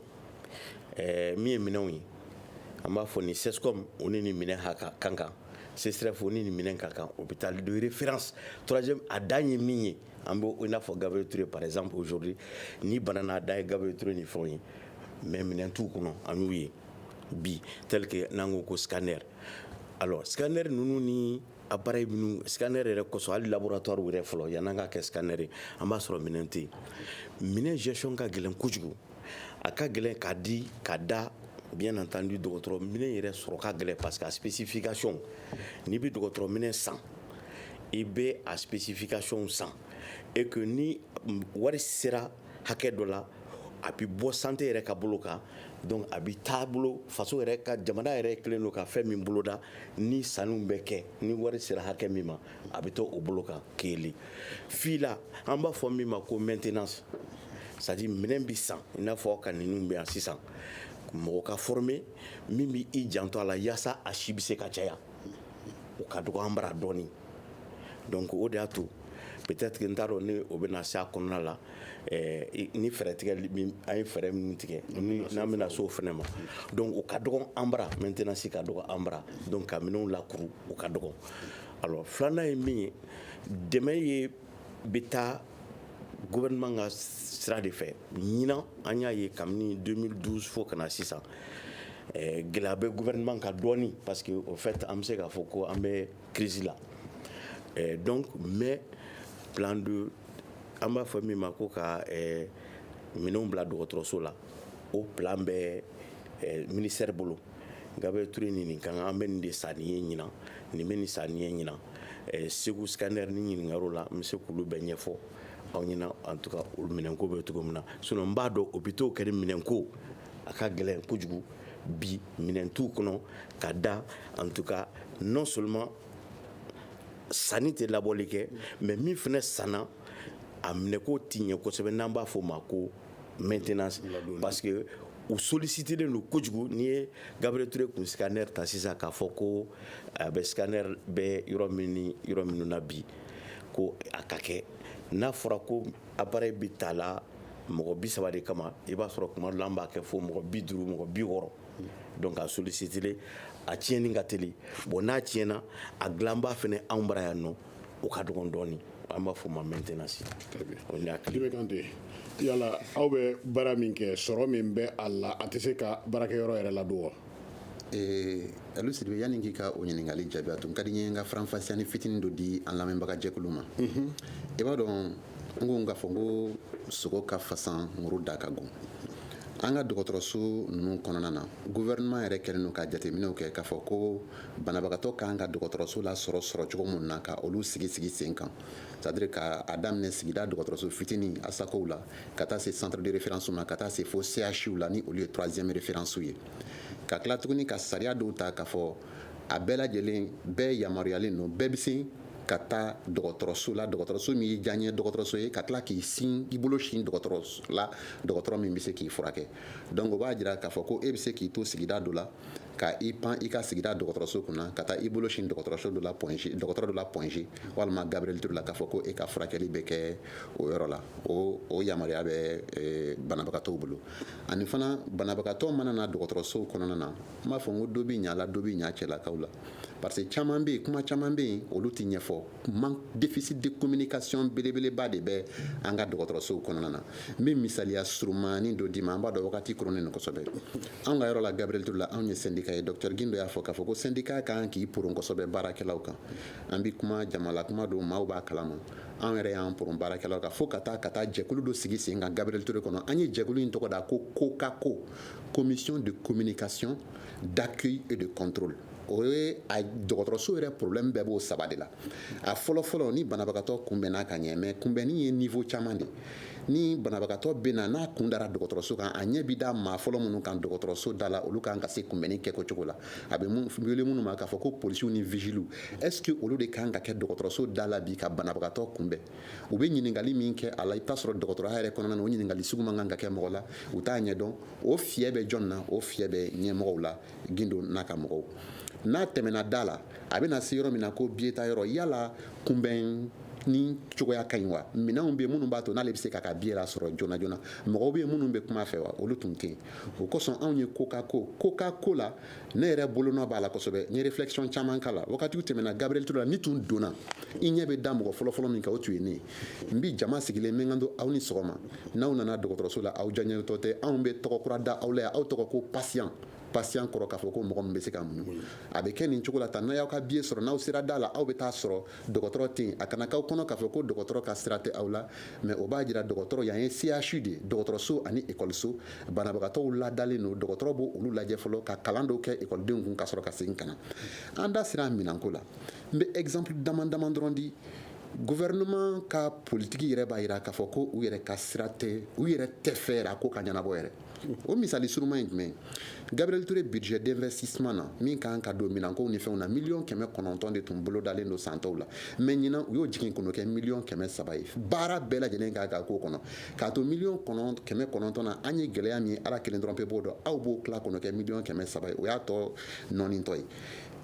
ɛɛ min ye minɛnw ye an b'a fɔ ni CSCOM o ni nin minɛn ka kan CSREF o ni nin minɛn ka kan hôpital de référence troisième a dan ye min ye an bɛ i n'a fɔ Gabriel Toure par exemple aujourd'hui ni bana n'a dan ye Gabriel Toure ni fɛnw ye mais minɛn t'u kɔnɔ an y'u ye bi tel que n'an ko ko scanner alors scanner ninnu ni appareil minnu scanner yɛrɛ kosɔn hali laboratoire yɛrɛ fɔlɔ yan'an ka kɛ scanner ye an b'a sɔrɔ minɛn tɛ yen minɛn gestion ka gɛlɛn kojugu a ka gɛlɛn k'a di ka da bien entendu dɔgɔtɔrɔ minɛn yɛrɛ sɔrɔ ka gɛlɛn parce que a spécification n'i bɛ dɔgɔtɔrɔ minɛn san i bɛ a spécification san et que ni wari sera hakɛ dɔ la a bɛ bɔ santé yɛrɛ ka bolo kan donc a bɛ taa bolo faso yɛrɛ ka jamana yɛrɛ kɛlen don ka fɛn min boloda ni sanni bɛ kɛ ni wari sera hakɛ min ma a bɛ to o bolo kan kelen fila an b'a fɔ min ma ko maintenance c'est-à-dire minɛn bɛ san i n'a fɔ ka ninnu bɛ yan sisan mɔgɔ ka former min bɛ i janto a la yaasa a si bɛ se ka caya o ka dɔgɔ an bara dɔɔni donc o de y'a to peut-être que n t'a dɔn ni o bɛna se a kɔnɔna la eh, ni fɛɛrɛ tigɛ an ye fɛɛrɛ minnu tigɛ n'an bɛna se o fana ma donc o ka dɔgɔn an bara maintenance ka dɔgɔn an bara donc ka minɛnw lakuru o ka dɔgɔn Alors filanan ye min ye dɛmɛ ye bɛ taa gouvernement ka sira de fɛ ɲinan an y'a ye kabini 2012 fo ka na sisan eh, gɛlɛya bɛ gouvernement kan dɔɔni parce que au fait an bɛ se k'a fɔ ko an bɛ crise la eh, donc mais plan de an b'a fɔ min ma ko ka eh, minɛnw bila dɔgɔtɔrɔso la o plan bɛ eh, ministère bolo Gabriel Toure ni nin kan, an bɛ nin de san nin ye ɲinan, nin bɛ nin san nin ye ɲinan, ɛɛ Segu scanner ni ɲininkaliw la, n bɛ se ka olu bɛɛ ɲɛfɔ aw ɲɛna en tout cas o minɛnko bɛ cogo min na sinon n b'a dɔn hôpitaux kɔni minɛnko a ka gɛlɛn kojugu bi minɛn t'u kɔnɔ ka da en tout cas non seulement sanni tɛ labɔli kɛ mais min fana sanna a minɛko tɛ ɲɛ kosɛbɛ n'an b'a fɔ o ma ko maintenance parce que u sollicitelen don kojugu n'i ye Gabriel Toure kun scanner ta sisan k'a fɔ ko a bɛ scanner bɛ yɔrɔ min ni yɔrɔ minnu na bi ko a ka kɛ n'a fɔra ko appareil bɛ ta la mɔgɔ bi saba de kama i b'a sɔrɔ tuma dɔ la an b'a kɛ fo mɔgɔ bi duuru mɔgɔ bi wɔɔrɔ donc a sollicitelen a tiɲɛni ka teli bon n'a tiɲɛna a dilanba fana anw bara yan nɔ o ka dɔgɔn dɔɔni an b'a fɔ ma maintenance o n'a kile bɛ Kante yala aw bɛ baara min kɛ sɔrɔ min bɛ a la a tɛ se ka baarakɛyɔrɔ yɛrɛ ladon wa ee Alu Sidibe yanni k'i ka o ɲininkali jaabi a tun ka di n ye n ka faranfasiyani fitinin dɔ di an lamɛnbaga jɛkulu ma i b'a dɔn n ko n k'a fɔ n ko sogo ka fasan muru da ka gon an ka dɔgɔtɔrɔso ninnu kɔnɔna na gouvernement yɛrɛ kɛlen don ka jateminɛw kɛ k'a fɔ ko banabagatɔ ka kan ka dɔgɔtɔrɔso lasɔrɔ sɔrɔ cogo min na ka olu sigi sigi sen kan c'est-à-dire ka a daminɛ sigida dɔgɔtɔrɔso fitinin asakow la ka taa se centre de référence ma ka taa se fo CHU la ni olu ye troisième référence ye ka tila tuguni ka sariya dɔw ta k'a fɔ a bɛɛ lajɛlen bɛɛ yamaruyalen don bɛɛ bɛ se ka taa dɔgɔtɔrɔso la dɔgɔtɔrɔso min y'i diyaɲɛ dɔgɔtɔrɔso ye ka tila k'i sin i bolo sin dɔgɔtɔrɔso la dɔgɔtɔrɔ min bɛ se k'i furakɛ donc o b'a jira k'a fɔ ko e bɛ se k'i to sigida dɔ la ka i pan i ka sigida dɔgɔtɔrɔso kunna ka taa i bolo sin dɔgɔtɔrɔso dɔ la dɔgɔtɔrɔ dɔ la Point G walima gabriel ture la k'a fɔ ko e ka furakɛli bɛ kɛ o yɔrɔ la o o yamaruya bɛ banabagatɔw bolo ani fana banabagatɔ mana na dɔgɔtɔrɔsow kɔnɔna na n b'a fɔ n ko dɔ bi ɲa la dɔ bi ɲa cɛlakaw la parce que caman bɛ yen kuma caman bɛ yen olu tɛ ɲɛfɔ mais déficit de communication belebeleba de bɛ an ka dɔgɔtɔrɔsow kɔnɔna na n bɛ misaliya surumani dɔ d'i ma an b'a dɔn wagati koronnen don kosɛbɛ anw ka yɔrɔ la gabriel ture la anw ye sendika ye docteur gindo y'a fɔ k'a fɔ ko sendika ka kan k'i poron kosɛbɛ baarakɛlaw kan an bɛ kuma jamalakuma don maaw b'a kalama an yɛrɛ y'an poron baarakɛlaw kan fo ka taa ka taa jɛkulu dɔ sigi sen kan gabriel ture kɔnɔ an ye jɛkulu in tɔgɔ da ko COCACO commission de communication d'accueil et de contrôle o ye a dɔgɔtɔrɔso yɛrɛ problème bɛɛ b'o saba de la a fɔlɔ fɔlɔ ni banabagatɔ kunbɛnna ka ɲɛ mais kunbɛnni ye niveau caman de ni banabagatɔ bɛ na n'a kun dara dɔgɔtɔrɔso kan a ɲɛ bi da maa fɔlɔ minnu kan dɔgɔtɔrɔso da la olu kan ka se kunbɛnni kɛko cogo la a bɛ wele minnu ma k'a fɔ ko polisiw ni vigiliw est ce que olu de kan ka kɛ dɔgɔtɔrɔso da la bi ka banabagatɔ kunbɛn u bɛ ɲininkali min kɛ a la i bɛ t'a sɔrɔ dɔgɔtɔrɔya yɛrɛ kɔnɔna na o ɲininkali sugu man kan ka kɛ mɔgɔ la u t'a ɲɛdɔn o fiyɛ bɛ jɔn na o fiyɛ bɛ ɲɛmɔgɔw la gindo n'a ka mɔgɔw n'a tɛmɛna da la a bɛna se yɔrɔ min na ko biye tayɔrɔ yala kunbɛnni cogoya ka ɲi wa minɛnw bɛ minnu b'a to n'ale bɛ se k'a ka biye lasɔrɔ joona joona mɔgɔw bɛ minnu bɛ kuma a fɛ wa olu tun tɛ yen o kosɔn anw ye COCACO COCACO la ne yɛrɛ bolonɔ b'a la kosɛbɛ n ye réflexion caman k'a la wagatiw tɛmɛna gabriel ture la n'i tun donna i ɲɛ bɛ da mɔgɔ fɔlɔfɔlɔ min kan o tun ye ne ye n bi jama sigilen n bɛ n kanto aw ni sɔgɔma n'aw nana dɔgɔtɔrɔso la aw diyaɲɛtɔ tɛ anw bɛ tɔgɔ kura da aw la yan aw tɔgɔ ko patient patient kɔrɔ k'a fɔ ko mɔgɔ min bɛ se ka muɲu a bɛ kɛ nin cogo la tan n'aw y'aw ka biye sɔrɔ n'aw sera da la aw bɛ t'a sɔrɔ dɔgɔtɔrɔ tɛ yen a kana k'aw kɔnɔ k'a fɔ ko dɔgɔtɔrɔ ka sira tɛ aw la mais o b'a jira dɔgɔtɔrɔ yan ye CHU de ye dɔgɔtɔrɔso ani ekɔliso banabagatɔw ladalen don dɔgɔtɔrɔ b'olu lajɛ fɔlɔ ka kalan dɔw kɛ ekɔlidenw kun ka sɔrɔ ka segin ka na an da sera minɛnko la n bɛ exemple dama dama dɔrɔn di gouvernement ka politiki yɛrɛ b'a yira k'a fɔ ko u yɛrɛ ka sira tɛ u yɛrɛ t'a fɛ yɛrɛ a ko ka ɲɛnabɔ yɛrɛ o misali suruma ye jumɛn gabriel ture budget d'investissement na min kan ka don minankow ni fɛnw na miliyɔn kɛmɛ kɔnɔntɔn de tun bolodalen don san tɔw la mais ɲinan u y'o jigin ka n'o kɛ miliyɔn kɛmɛ saba ye baara bɛɛ lajɛlen kan ka k'o kɔnɔ k'a to miliyɔn kɛmɛ kɔnɔntɔn na an ye gɛlɛya min ala kelen dɔrɔn pe b'o dɔn aw b'o tila ka n'o kɛ miliyɔn kɛmɛ saba ye o y'a tɔ nɔnitɔ ye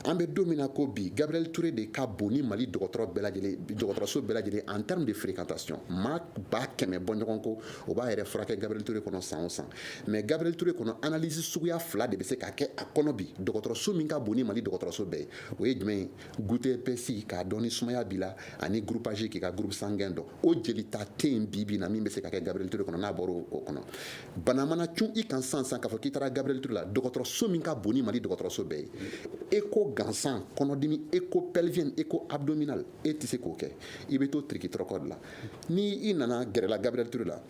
an bɛ don min na ko bi gabriel toure de ka bon ni mali dɔgɔtɔrɔ bɛɛ lajɛlen dɔgɔtɔrɔso bɛɛ lajɛlen en terme de fréquentation maa ba kɛmɛ bɔ ɲɔgɔn ko o b'a yɛrɛ furakɛ gabriel toure kɔnɔ san o san mais gabriel toure kɔnɔ analyse suguya fila de bɛ se ka kɛ a kɔnɔ bi dɔgɔtɔrɔso min ka bon ni mali dɔgɔtɔrɔso bɛɛ ye o ye jumɛn ye goutte épaisse k'a dɔn ni sumaya b'i la ani groupage k'i ka groupe sanguin dɔn o jelita tɛ yen bi bi na min bɛ se ka kɛ gabriel ture kɔnɔ n'a bɔra o kɔnɔ bana mana cun i kan san san k'a fɔ k'i taara gabriel ture la dɔgɔtɔrɔso min ka bon ni mali dɔgɔtɔrɔso bɛɛ ye écho gansan kɔnɔdimi écho pelvienne écho abdominale e tɛ se k'o kɛ i bɛ to tirikitɔrɔkɔ de la ni i nana gɛrɛla gabriel ture la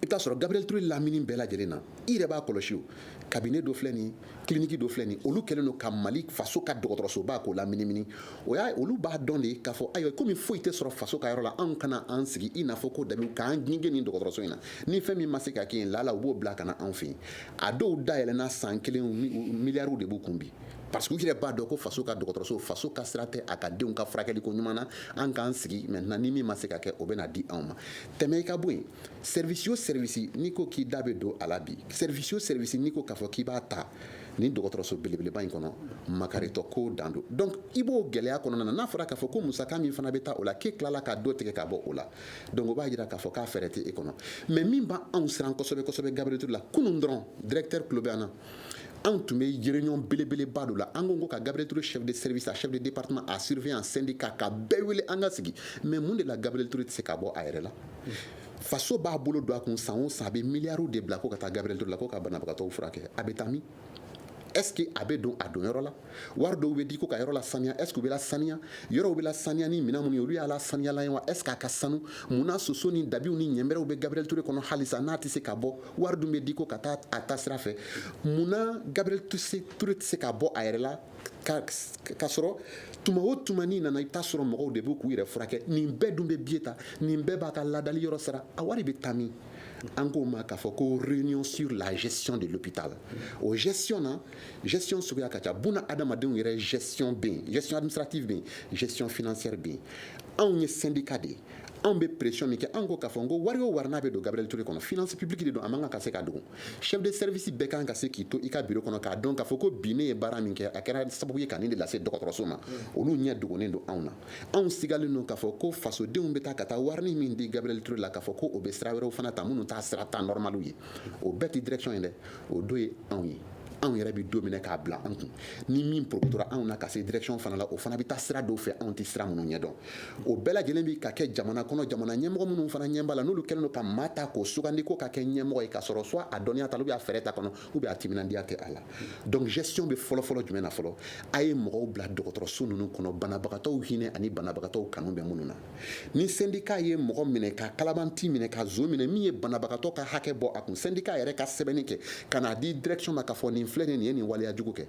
i t'a sɔrɔ gabriel ture lamini bɛɛ lajɛlen na i yɛrɛ b'a kɔlɔsi o kabine dɔ filɛ nin kiliniki dɔ filɛ nin olu kɛlen don ka mali faso ka dɔgɔtɔrɔsoba k'o laminimini olu b'a dɔn de k'a fɔ ayiwa komi foyi tɛ sɔrɔ faso ka yɔrɔ la anw ka na an sigi i n'a fɔ ko dabi k'an gengen nin dɔgɔtɔrɔso in na ni fɛn min ma se ka kɛ yen lala u b'o bila ka na anw fɛ yen a dɔw dayɛlɛnna san kelen miliyariw de b'u kun bi parce que u yɛrɛ b'a dɔn ko faso ka dɔgɔtɔrɔso faso ka sira tɛ a ka denw ka furakɛli ko ɲuman na an k'an sigi maintenant ni min ma se ka kɛ o bɛna di anw ma tɛmɛ i ka bɔ yen sɛrivisi o sɛrivisi n'i ko k'i da bɛ don a la bi sɛrivisi o sɛrivisi n'i ko k'a fɔ k'i b'a ta nin dɔgɔtɔrɔso belebeleba in kɔnɔ makaritɔ ko dan don donc i b'o gɛlɛya kɔnɔna na n'a fɔra k'a fɔ ko musaka min fana bɛ taa o la k'e tilala ka dɔ tigɛ ka bɔ o la donc o b'a jira k'a fɔ k'a fɛɛrɛ tɛ e kɔnɔ mais min b'anw siran kosɛbɛ kosɛbɛ gabriel toure la kunun dɔrɔn directeur tulo bɛ an na anw tun bɛ réunion belebeleba dɔ la an ko ko ka gabriel toure chef de service a chef de département a surveillant syndicat ka bɛɛ wele an ka sigi mais mun de la gabriel toure tɛ se ka bɔ a yɛrɛ la faso b'a bolo don a kun san o san a bɛ miliyariw de bila ko ka taa gabriel ture la ko ka banabagatɔw furakɛ a bɛ taa min est ce que a bɛ don a don yɔrɔ la wari dɔw bɛ di ko ka yɔrɔ lasaniya est ce que u bɛ lasaniya yɔrɔw bɛ lasaniya ni minɛn minnu ye olu y'a lasaniyalan ye wa est ce que a ka sanu mun na soso ni dabiw ni ɲɛnbɛrɛw bɛ gabriel ture kɔnɔ halisa n'a tɛ se ka bɔ wari dun bɛ di ko ka taa a ta sira fɛ mun na gabriel ture tɛ se ka bɔ a yɛrɛ la k'a sɔrɔ tuma o tuma n'i nana i bɛ taa sɔrɔ mɔgɔw de bɛ k'u yɛrɛ furakɛ nin bɛɛ dun bɛ biye ta nin bɛɛ b'a ka ladali yɔrɔ sara a wari bɛ taa min an k'o ma k'a fɔ ko réunion sur la gestion de l'hôpital o gestion na gestion suguya ka ca bunadamadenw yɛrɛ gestion bɛ yen gestion administrative bɛ yen gestion financière bɛ yen anw ye syndicat de ye anw bɛ pression min kɛ anw ko k'a fɔ ko wari o wari n'a bɛ don Gabriel Toure kɔnɔ finance publique de don a man kan ka se ka dogo Chef de service bɛɛ kan ka se k'i to i ka biro kɔnɔ k'a dɔn k'a fɔ ko bi ne ye baara min kɛ a kɛra sababu ye ka nin de lase dɔgɔtɔrɔso ma olu ɲɛ dogonen don anw na anw sigalen don k'a fɔ ko fasodenw bɛ taa ka taa wari min di gabriel toure la k'a fɔ ko o bɛ sira wɛrɛw fana ta minnu t'a sira ta nɔrɔmaliw ye o bɛɛ tɛ direction ye dɛ o dɔ ye anw ye anw yɛrɛ bɛ dɔ minɛ k'a bila anw kun ni min porokotora anw na ka se direction fana la o fana bɛ taa sira dɔw fɛ anw tɛ sira minnu ɲɛ dɔn o bɛɛ lajɛlen bi ka kɛ jamana kɔnɔ jamana ɲɛmɔgɔ minnu fana ɲɛba la n'olu kɛlen don ka maa ta k'o sugandi ko k'a kɛ ɲɛmɔgɔ ye k'a sɔrɔ soit a dɔnniya t'a la ou bien a fɛɛrɛ t'a kɔnɔ ou bien a timinandiya tɛ a la donc gestion bɛ fɔlɔfɔlɔ jumɛn na fɔlɔ a ye mɔgɔw bila dɔgɔtɔrɔso ninnu kɔnɔ banabagatɔw hinɛ ani banabagatɔw kanu bɛ minnu na ni sendika ye mɔgɔ minɛ ka kalabanti minɛ ka zon minɛ min ye banabagatɔ ka hakɛ bɔ a kun sendika yɛrɛ ka sɛbɛnni kɛ ka n'a di direction ma k'a fɔ nin filɛ nin ye nin waleya jugu kɛ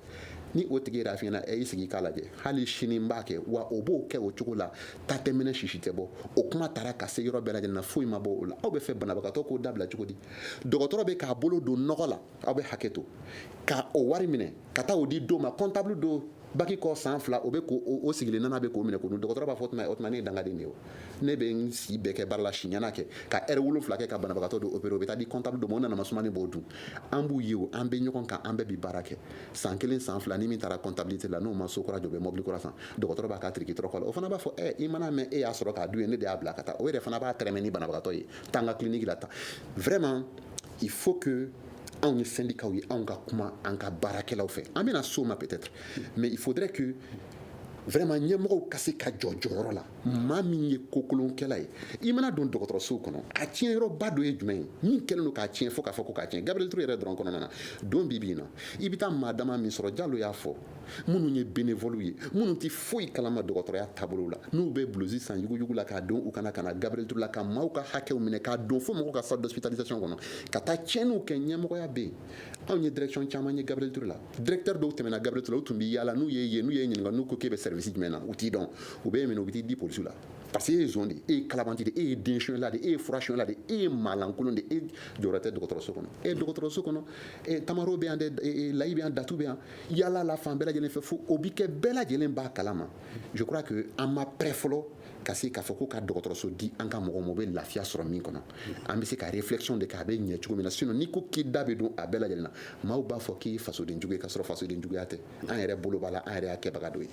ni o tigi yɛrɛ f'i ɲɛna ɛ i sigi k'a lajɛ hali sini n b'a kɛ wa o b'o kɛ o cogo la ta tɛ mɛnɛ sisi tɛ bɔ o kuma taara ka se yɔrɔ bɛɛ lajɛlen na foyi ma bɔ o la aw b'a fɛ banabagatɔ k'o dabila cogo di dɔgɔtɔrɔ bɛ k'a bolo don nɔgɔ la aw bɛ hakɛto ka o wari minɛ ka taa o di dɔ ma kɔntabulu dɔ baki kɔ san fila o bɛ ko o sigilen nana bɛ k'o minɛ k'o dun dɔgɔtɔrɔ b'a fɔ tuma o tuma ne ye dangaden de ye o ne bɛ n si bɛɛ kɛ baara la siɲɛna kɛ ka ɛri wolonfila kɛ ka banabagatɔ dɔ opere o bɛ taa di kɔntabulu dɔ ma o nana masumani b'o dun an b'u ye o an bɛ ɲɔgɔn kan an bɛɛ bi baara kɛ san kelen san fila ni min taara kɔntabilite la n'o ma so kura jɔ o bɛ mɔbili kura san dɔgɔtɔrɔ b'a ka tiriki tɔrɔkɔ la o fana b'a fɔ ɛ i mana mɛn e y'a sɔrɔ k'a dun ye ne de y'a bila ka taa o yɛrɛ fana b'a tɛrɛmɛ ni banabagatɔ ye taa n ka kiliniki la tan vraiment il faut que anw ye syndicats ye anw ka kuma an ka baarakɛlaw fɛ an bɛna s'o ma peut-être mais il faudrait que vraiment ɲɛmɔgɔw ka se ka jɔ jɔyɔrɔ la maa min ye kokolonkɛla ye i mana don dɔgɔtɔrɔsow kɔnɔ a tiɲɛyɔrɔba dɔ ye jumɛn ye min kɛlen don k'a tiɲɛ fo k'a fɔ ko k'a tiɲɛ gabriel touré yɛrɛ dɔrɔn kɔnɔna na don bi bi in na i bɛ taa maa dama min sɔrɔ jalo y'a fɔ minnu ye benevɔliw ye minnu tɛ foyi kalama dɔgɔtɔrɔya taabolo la n'u bɛ bulusi san yuguyugu la k'a don u kan na ka na gabriel touré la ka maaw ka hakɛw minɛ ka don fo mɔgɔw ka salle d'hospitalisation kɔnɔ ka taa tiɲɛniw kɛ ɲɛmɔgɔya bɛ yen anw ye direction caman ye gabriel touré la directeur dɔw tɛmɛna gabriel touré la u tun bɛ yaala n'u y'i ye n'u y'i ɲininka n'u ko k'e bɛ service jumɛn na u t'i dɔn u b'i minɛ u bɛ t'i di polisiw la parce que e ye zon de e ye kalabanti de e ye den sonyɛla de e ye fura sonyɛla de e ye maalankolon de e jɔyɔrɔ tɛ dɔgɔtɔrɔso kɔnɔ e dɔgɔtɔrɔso kɔnɔ e tamaro bɛ yan dɛ layi bɛ yan datu bɛ yan yaala la fan bɛɛ lajɛlen fɛ fo o bi kɛ bɛɛ lajɛlen b'a kalama je crois que an ma prêt fɔlɔ ka se k'a fɔ ko ka dɔgɔtɔrɔso di an ka mɔgɔw ma u bɛ lafiya sɔrɔ min kɔnɔ an bɛ se ka réflexion de kɛ a bɛ ɲɛ cogo min na sinon n'i ko k'i da bɛ don a bɛɛ lajɛlen na maaw b'a fɔ k'i ye fasoden jugu ye k'a sɔrɔ fasoden juguya tɛ an yɛrɛ bolo b'a la an yɛrɛ y'a kɛbaga dɔ ye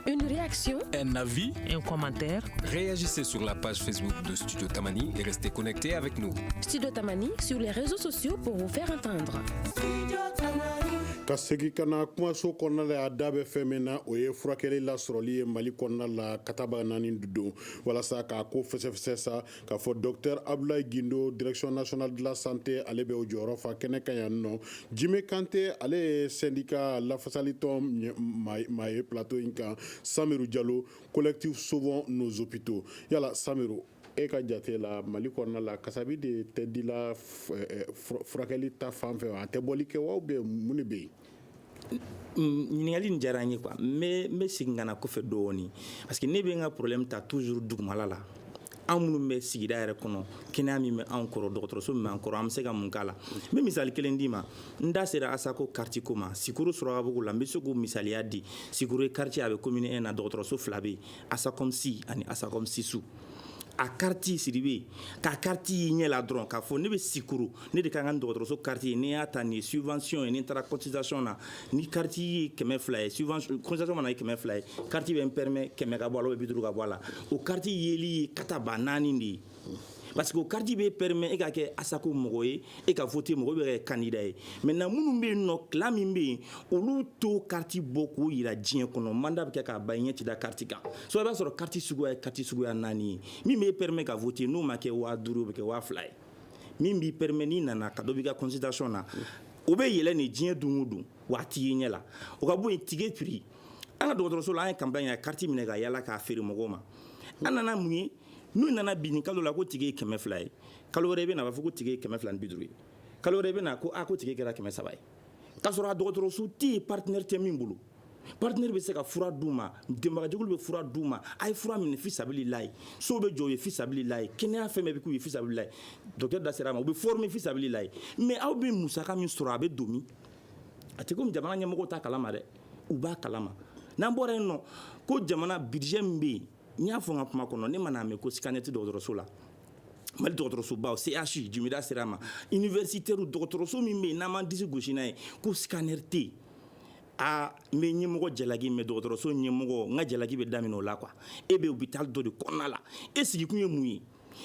Une réaction, un avis, un commentaire. Réagissez sur la page Facebook de Studio Tamani et restez connectés avec nous. Studio Tamani sur les réseaux sociaux pour vous faire entendre. Studio Tamani. Ka segin ka na kumaso kɔnɔna la a da bɛ fɛn min na o ye furakɛli lasɔrɔli ye mali kɔnɔna la ka taaba naani don walasa k'a ko fɛsɛfɛsɛ sa k'a fɔ docteur abdoulaye guindo direction nationale de la santé ale bɛ o jɔyɔrɔ fa kɛnɛ kan yan nɔ jime kante ale ye sendika lafasalitɔn maa ye plateau in kan samiru jalo collectif sauvons nos hôpitaux yala samiru e ka jate la mali kɔnɔna la kasabi de tɛ dila eh, furakɛli ta fan fɛ a tɛ bɔli kɛ wa ou bien mun de bɛ yen ɲininkali nin diyara n ye quoi n bɛ segin ka na kɔfɛ dɔɔni parce que ne bɛ n ka problème ta toujours dugumala la an minnu bɛ sigida yɛrɛ kɔnɔ kɛnɛya min bɛ anw kɔrɔ dɔgɔtɔrɔso min b'an kɔrɔ an bɛ se ka mun k'a la n bɛ misali kelen d'i ma n da sera ASACO carte ko ma sikuru surakabugu la n bɛ se k'o misaliya di sikuru ye quartier a bɛ commune 1 na dɔgɔtɔrɔso fila bɛ yen ASACOMSI ani ASACOMSISOU a carte siribe k'a carte y'i ɲɛ la dɔrɔn k'a fɔ ne bɛ sikuru ne de ka kan ni dɔgɔtɔrɔso carte ye n'i y'a ta nin ye subvention ye n'i taara consultation na ni carte ye kɛmɛ fila ye consultation fana ye kɛmɛ fila ye carte bɛ n permet kɛmɛ ka bɔ a la ou bien bi duuru ka bɔ a la o carte yeli ye katabaanaani de ye parce que o carte bɛ permet e ka kɛ ASACO mɔgɔ ye e ka voter mɔgɔ bɛ kɛ candidat ye maintenant minnu bɛ yen nɔ clan min bɛ yen olu t'o carte bɔ k'o jira diɲɛ kɔnɔ mandat bɛ kɛ k'a ban i ɲɛ tɛ da carte kan soit i b'a sɔrɔ carte suguya ye carte suguya naani ye min b'e permet ka voter n'o ma kɛ waa duuru o bɛ kɛ waa fila ye min b'i permet n'i nana ka dɔ b'i ka consultation na o bɛ yɛlɛ nin diɲɛ don o don wa a t'i ye ɲɛ la o ka bɔ yen ticket prix an ka dɔgɔtɔrɔso la an ye campagne kɛ ka carte minɛ ka yala k'a feere mɔgɔw ma an nana mun ye n'u nana bi nin kalo la ko ticket ye kɛmɛ fila ye kalo wɛrɛ i bɛ na a b'a fɔ ko ticket ye kɛmɛ fila ni bi duuru ye kalo wɛrɛ i bɛ na ko a ko ticket kɛra kɛmɛ saba ye k'a sɔrɔ a dɔgɔtɔrɔso tɛ yen partenaire tɛ min bolo partenaire bɛ se ka fura d'u ma dɛmɛbagajɛkulu bɛ fura d'u ma a ye fura minɛ fisabili layi sow bɛ jɔ u ye fisabili layi kɛnɛya fɛn bɛɛ bɛ k'u ye fisabili layi docteur da sera a ma u bɛ former fisabili layi mais aw bɛ musaka min sɔrɔ a bɛ don min a tɛ komi jamana ɲɛmɔgɔw t'a kalama dɛ u b'a kalama n'an bɔra yen nɔ ko jamana budget min bɛ yen n y'a fɔ n ka kuma kɔnɔ ne man'a mɛn ko scanner tɛ dɔgɔtɔrɔso la mali dɔgɔtɔrɔsobaw CHU jimi da sera a ma universitaire dɔgɔtɔrɔso min bɛ yen n'an m'an disi gosi n'a ye ko scanner tɛ yen aa n bɛ ɲɛmɔgɔ jalaki mais dɔgɔtɔrɔso ɲɛmɔgɔ n ka jalaki bɛ daminɛ o la quoi e bɛ hôpital dɔ de kɔnɔna la e sigikun ye mun ye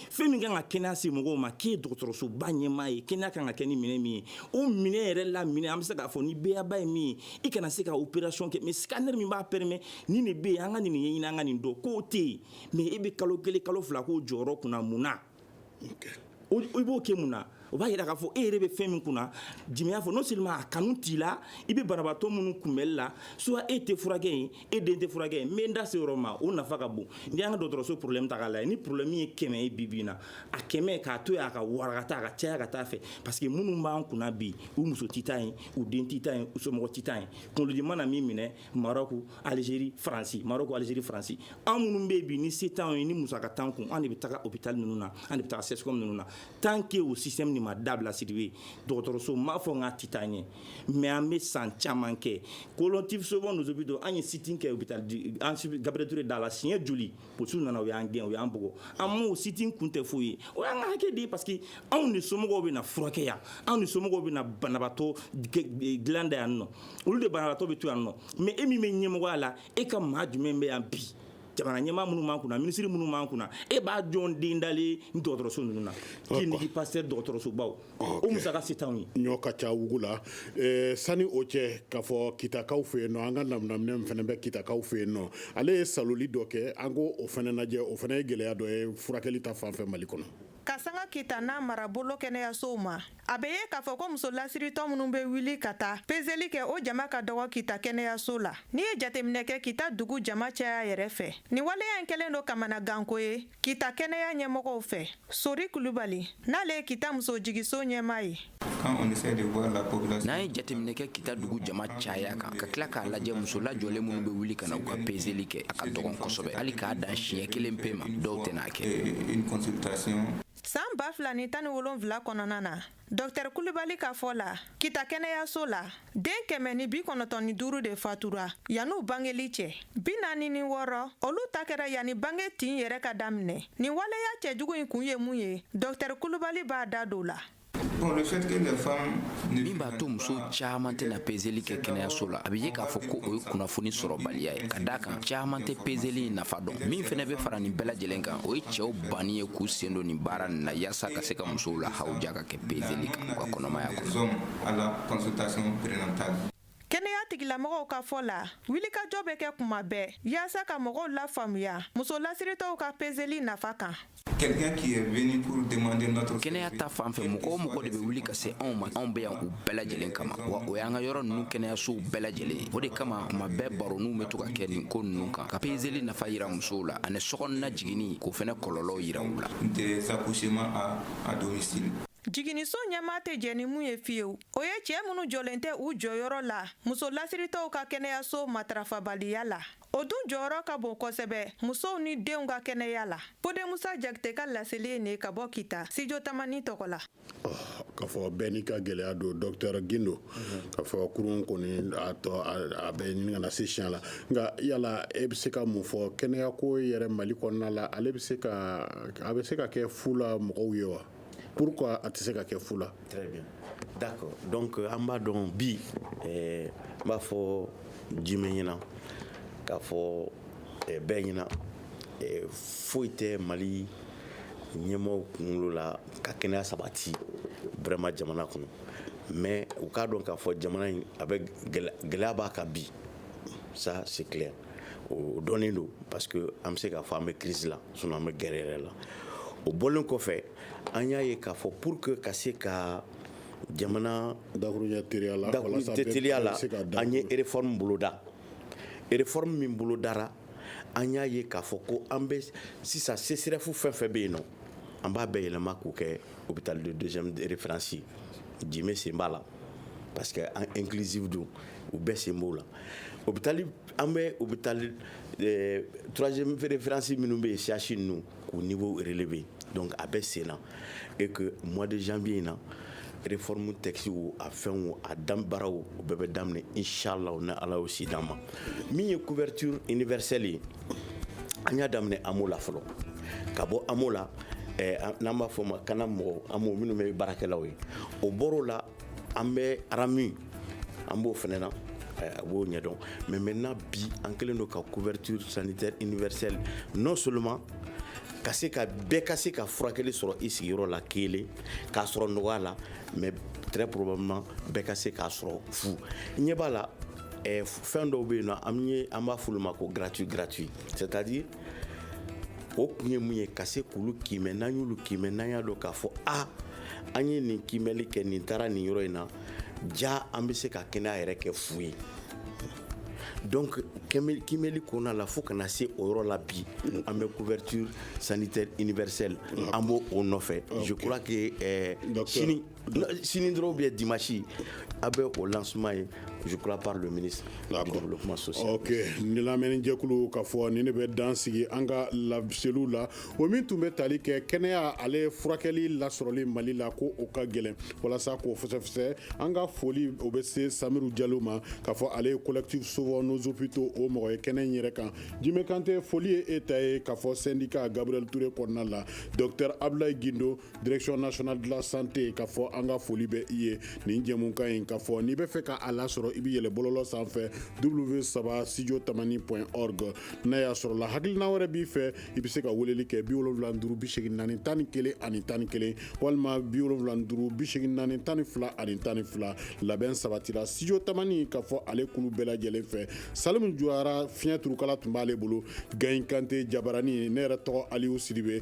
fɛn min kan ka kɛnɛya se mɔgɔw ma k'e dɔgɔtɔrɔsoba ɲɛmaa ye kɛnɛya kan ka kɛ ni minɛ min ye o minɛ yɛrɛ la minɛ an bɛ se k'a fɔ ni beyaba ye min ye i kana se ka opération kɛ mais scanner min b'a permet ni nin bɛ yen an ka nin ɲɛɲini an ka nin dɔn k'o tɛ yen mais e bɛ kalo kelen kalo fila k'o jɔyɔrɔ kunna mun na i b'o kɛ mun na o b'a jira k'a fɔ e yɛrɛ bɛ fɛn min kunna jimi y'a fɔ non seulement a kanu t'i la i bɛ banabaatɔ minnu kunbɛli la soit e tɛ furakɛ yen e den tɛ furakɛ yen n bɛ n da se yɔrɔ ma o nafa ka bon n'i y'an ka dɔgɔtɔrɔso problème ta k'a lajɛ ni problème ye kɛmɛ ye bi bi in na a kɛmɛ k'a to yen a ka wara ka taa a ka caya ka taa a fɛ parce que minnu b'an kunna bi u muso tɛ taa yen u den tɛ taa yen u somɔgɔ tɛ taa yen kunkolodimi mana min minɛ Mara ko alizeri faransi mara ko alize faransi anw minnu bɛ bi ni se tan ye ni musa ka tan kun an de bɛ taa o bɛ taa ninnu na an de bɛ taa se ninnu na tan ke o si min ma dabila siri ye dɔgɔtɔrɔso m maa fɔ n ka ti taa ye mɛ an bɛ san caman kɛ kolontisobonso bɛ don an ye sit kɛ u bɛ taa an gabretur dala la siɲɛ joli Polisiw nana u y'an gɛn u y'an bugɔ an m'o sit-in kun tɛ foyi ye o y'an ka hakɛ de ye parce que anw de somɔgɔw bɛ na furakɛ yan anw de somɔgɔw bɛ na banabaatɔ dilan da yan nɔ olu de banabaatɔ bɛ to yan nɔ mais e min bɛ ɲɛmɔgɔya la e ka maa jumɛn bɛ yan bi jamana ɲɛmaa minnu b'an kunna minisiri minnu b'an kunna e b'a jɔn den dalen nin dɔgɔtɔrɔso ninnu na clinique pasteur dɔgɔtɔrɔsobaw o musaka se t'an ye ɲɔ ka ca wugu la sani o cɛ k'a fɔ kitakaw fɛ yen nɔ an ka laminɛ min fana bɛ kitakaw fɛ yen nɔ ale ye saloli dɔ kɛ an ko o fana lajɛ o fana ye gɛlɛya dɔ ye furakɛli ta fan fɛ mali kɔnɔ ka sanga kita n'a marabolo kɛnɛyasow ma a bɛ ye k'a fɔ ko muso lasiritɔ minnu bɛ wuli ka taa pezeli kɛ o jama ka dɔgɔ kita kɛnɛyaso la n'i ye jateminɛ kɛ kita dugu jama caya yɛrɛ fɛ nin waleya in kɛlen don kamanaganko ye kita kɛnɛya ɲɛmɔgɔw fɛ sori kulubali n'ale ye kita muso jigiso ɲɛmaa ye N'an ye jateminɛ kɛ kita dugu jama caya kan ka tila k'a lajɛ muso lajɔlen minnu bɛ wuli ka na u ka pezeli kɛ a ka dɔgɔn kosɛbɛ hali k'a dan siɲɛ kelen pe ma dɔw tɛn'a kɛ san ba fila ni tan ni wolonwula kɔnɔna na Docteur kulubali ka fɔ la kita kɛnɛyaso la den kɛmɛ ni bi kɔnɔntɔn ni duuru de fatura yanni u bangeli cɛ bi naani ni wɔɔrɔ olu ta kɛra yanni bange tin yɛrɛ ka daminɛ nin waleya cɛjugu in kun ye mun ye docteur kulubali b'a da don la min b'a to muso caman tɛna pezeli kɛ kɛnɛyaso la a bɛ ye k'a fɔ ko o ye kunnafoni sɔrɔbaliya ye ka d'a kan caman tɛ pezeli nafa dɔn min fana bɛ fara nin bɛɛ lajɛlen kan o ye cɛw banni ye k'u sen don nin baara nin na yaasa ka se ka musow la hawuja ka kɛ pezeli kan u ka kɔnɔmaya kɔnɔ kɛnɛya tigilamɔgɔw ka fɔ la wilikajɔ bɛ kɛ kuma bɛɛ yaasa ka mɔgɔw lafaamuya muso lasiritɔw ka pezeli nafa kan kɛnɛya ta fan fɛ mɔgɔ o mɔgɔ de bɛ wuli ka se anw ma anw bɛ yan bɛɛ lajɛlen kama wa o y'an ka yɔrɔ nunu kɛnɛyasow bɛɛ lajɛlen ye o de kama kuma bɛɛ baroninw bɛ to ka kɛ nin ko nunu kan ka pezeli nafa yira musow la ani sokɔnɔna jiginni k'o fɛnɛ kɔlɔlɔw yira u la jiginiso ɲɛmaa tɛ jɛ ni mun ye fiyewu o ye cɛ minnu jɔlen tɛ u jɔyɔrɔ la muso lasiritɔw ka kɛnɛyaso matarafabaliya la o dun jɔyɔrɔ ka bon kosɛbɛ musow ni denw ka kɛnɛya la fode musa jakite ka laseli ye nin ye ka bɔ kita studio tamani tɔgɔ la k'a fɔ bɛɛ n'i ka gɛlɛya don docteur gindo k'a fɔ kurun kɔni a tɔ a bɛ ɲini ka na se siya la nka yala e bɛ se ka mun fɔ kɛnɛya ko yɛrɛ mali kɔnɔna la ale bɛ se ka a bɛ se ka kɛ fu la mɔgɔw ye wa pourquoi a tɛ se ka kɛ fu la d'accord donc an b'a dɔn bi n b'a fɔ jimɛ ɲɛna k'a fɔ bɛɛ ɲɛna foyi tɛ mali ɲɛmɔgɔw kunkolo la ka kɛnɛya sabati vraiment jamana kɔnɔ mais u k'a dɔn k'a fɔ jamana in a bɛ gɛlɛya b'a kan bi ça c'est clair o dɔnnen don parce que an bɛ se k'a fɔ an bɛ crise la sinon an bɛ guerre yɛrɛ la o bɔlen kɔfɛ an y'a ye k'a fɔ pour que ka se ka jamana dakuruɲɛ teliya la walasa bɛɛ teliya la bɛ se ka da an ye réforme boloda réforme min bolodara an y'a ye k'a fɔ ko an bɛ sisan CSREF fɛn fɛn bɛ yen nɔ an b'a bɛɛ yɛlɛma k'o kɛ hôpital de deuxième référence ye Djime sen b'a la parce que an inclusive don u bɛɛ sen b'o la hôpital an bɛ hôpital euh, troisième référence minnu bɛ yen CHU ninnu k'u niveau relevé donc a bɛ sen na et que mois de janvier in na réforme texte wo a fɛn wo a dan baara wo o bɛɛ bɛ daminɛ inchallah ni Ala y'o si d'an ma min ye couverture universelle ye an y'a daminɛ AMO la fɔlɔ ka bɔ AMO la eh, n'an b'a fɔ ma CANAM mɔgɔ AMO minnu bɛ baarakɛlaw ye o bɔr'o la an bɛ RAMED an b'o fɛnɛ na eh, a b'o ɲɛdɔn mais maintenant bi an kɛlen don ka couverture sanitaire universelle non seulement ka se ka bɛɛ ka se ka furakɛli sɔrɔ i sigiyɔrɔ la kelen k'a sɔrɔ nɔgɔya la mais très probablement bɛɛ ka se k'a sɔrɔ fu ɲɛ b'a la ɛ fɛn dɔw bɛ yen nɔ an ye an b'a f'olu ma ko gratuit gratuit c'est à dire o kun ye mun ye ka se k'olu kiimɛ n'an y'olu kiimɛ n'an y'a dɔn k'a fɔ a an ye nin kiimɛli kɛ nin taara nin yɔrɔ in na ja an bɛ se ka kɛnɛya yɛrɛ kɛ fu ye donc kiimɛli kɔnɔna la fo ka na se o yɔrɔ la bi an bɛ couverture sanitaire universelle an b'o o nɔfɛ je crois que euh, sini sini dɔrɔn ou bien dimanche a bɛ o lancement ye je crois par le ministre du développement social. ok ni lamɛnni jɛkulu k'a fɔ nin ne bɛ dan sigi an ka laseliw la o min tun bɛ tali kɛ kɛnɛya ale furakɛli lasɔrɔli mali la ko o ka gɛlɛn walasa k'o fɛsɛfɛsɛ an ka foli o bɛ se samiru jalo ma k'a fɔ ale ye collectif sauvons nos hôpitaux o mɔgɔ ye kɛnɛ in yɛrɛ kan jimɛ kante foli ye e ta ye k'a fɔ syndicat gabriel ture kɔnɔna la docteur abdulayi gindo direction nationale de la santé k'a fɔ an ka foli bɛ i ye nin jɛmukan in k'a fɔ n'i bɛ fɛ ka a lasɔrɔ i bɛ yɛlɛ bɔlɔlɔ sanfɛ w3 studio tamani point org n'a y'a sɔrɔ la hakilina wɛrɛ b'i fɛ i bɛ se ka weleli kɛ bi wolonwula ni duuru bi seegin naani tan ni kelen ani tan ni kelen walima bi wolonwula ni duuru bi seegin naani tan ni fila ani tan ni fila labɛn sabatira studio tamani k'a fɔ ale kulu bɛɛ lajɛlen fɛ salimu juyara fiɲɛ turukala tun b'ale bolo gayin kante jabarani ne yɛrɛ tɔgɔ aliyu sidibe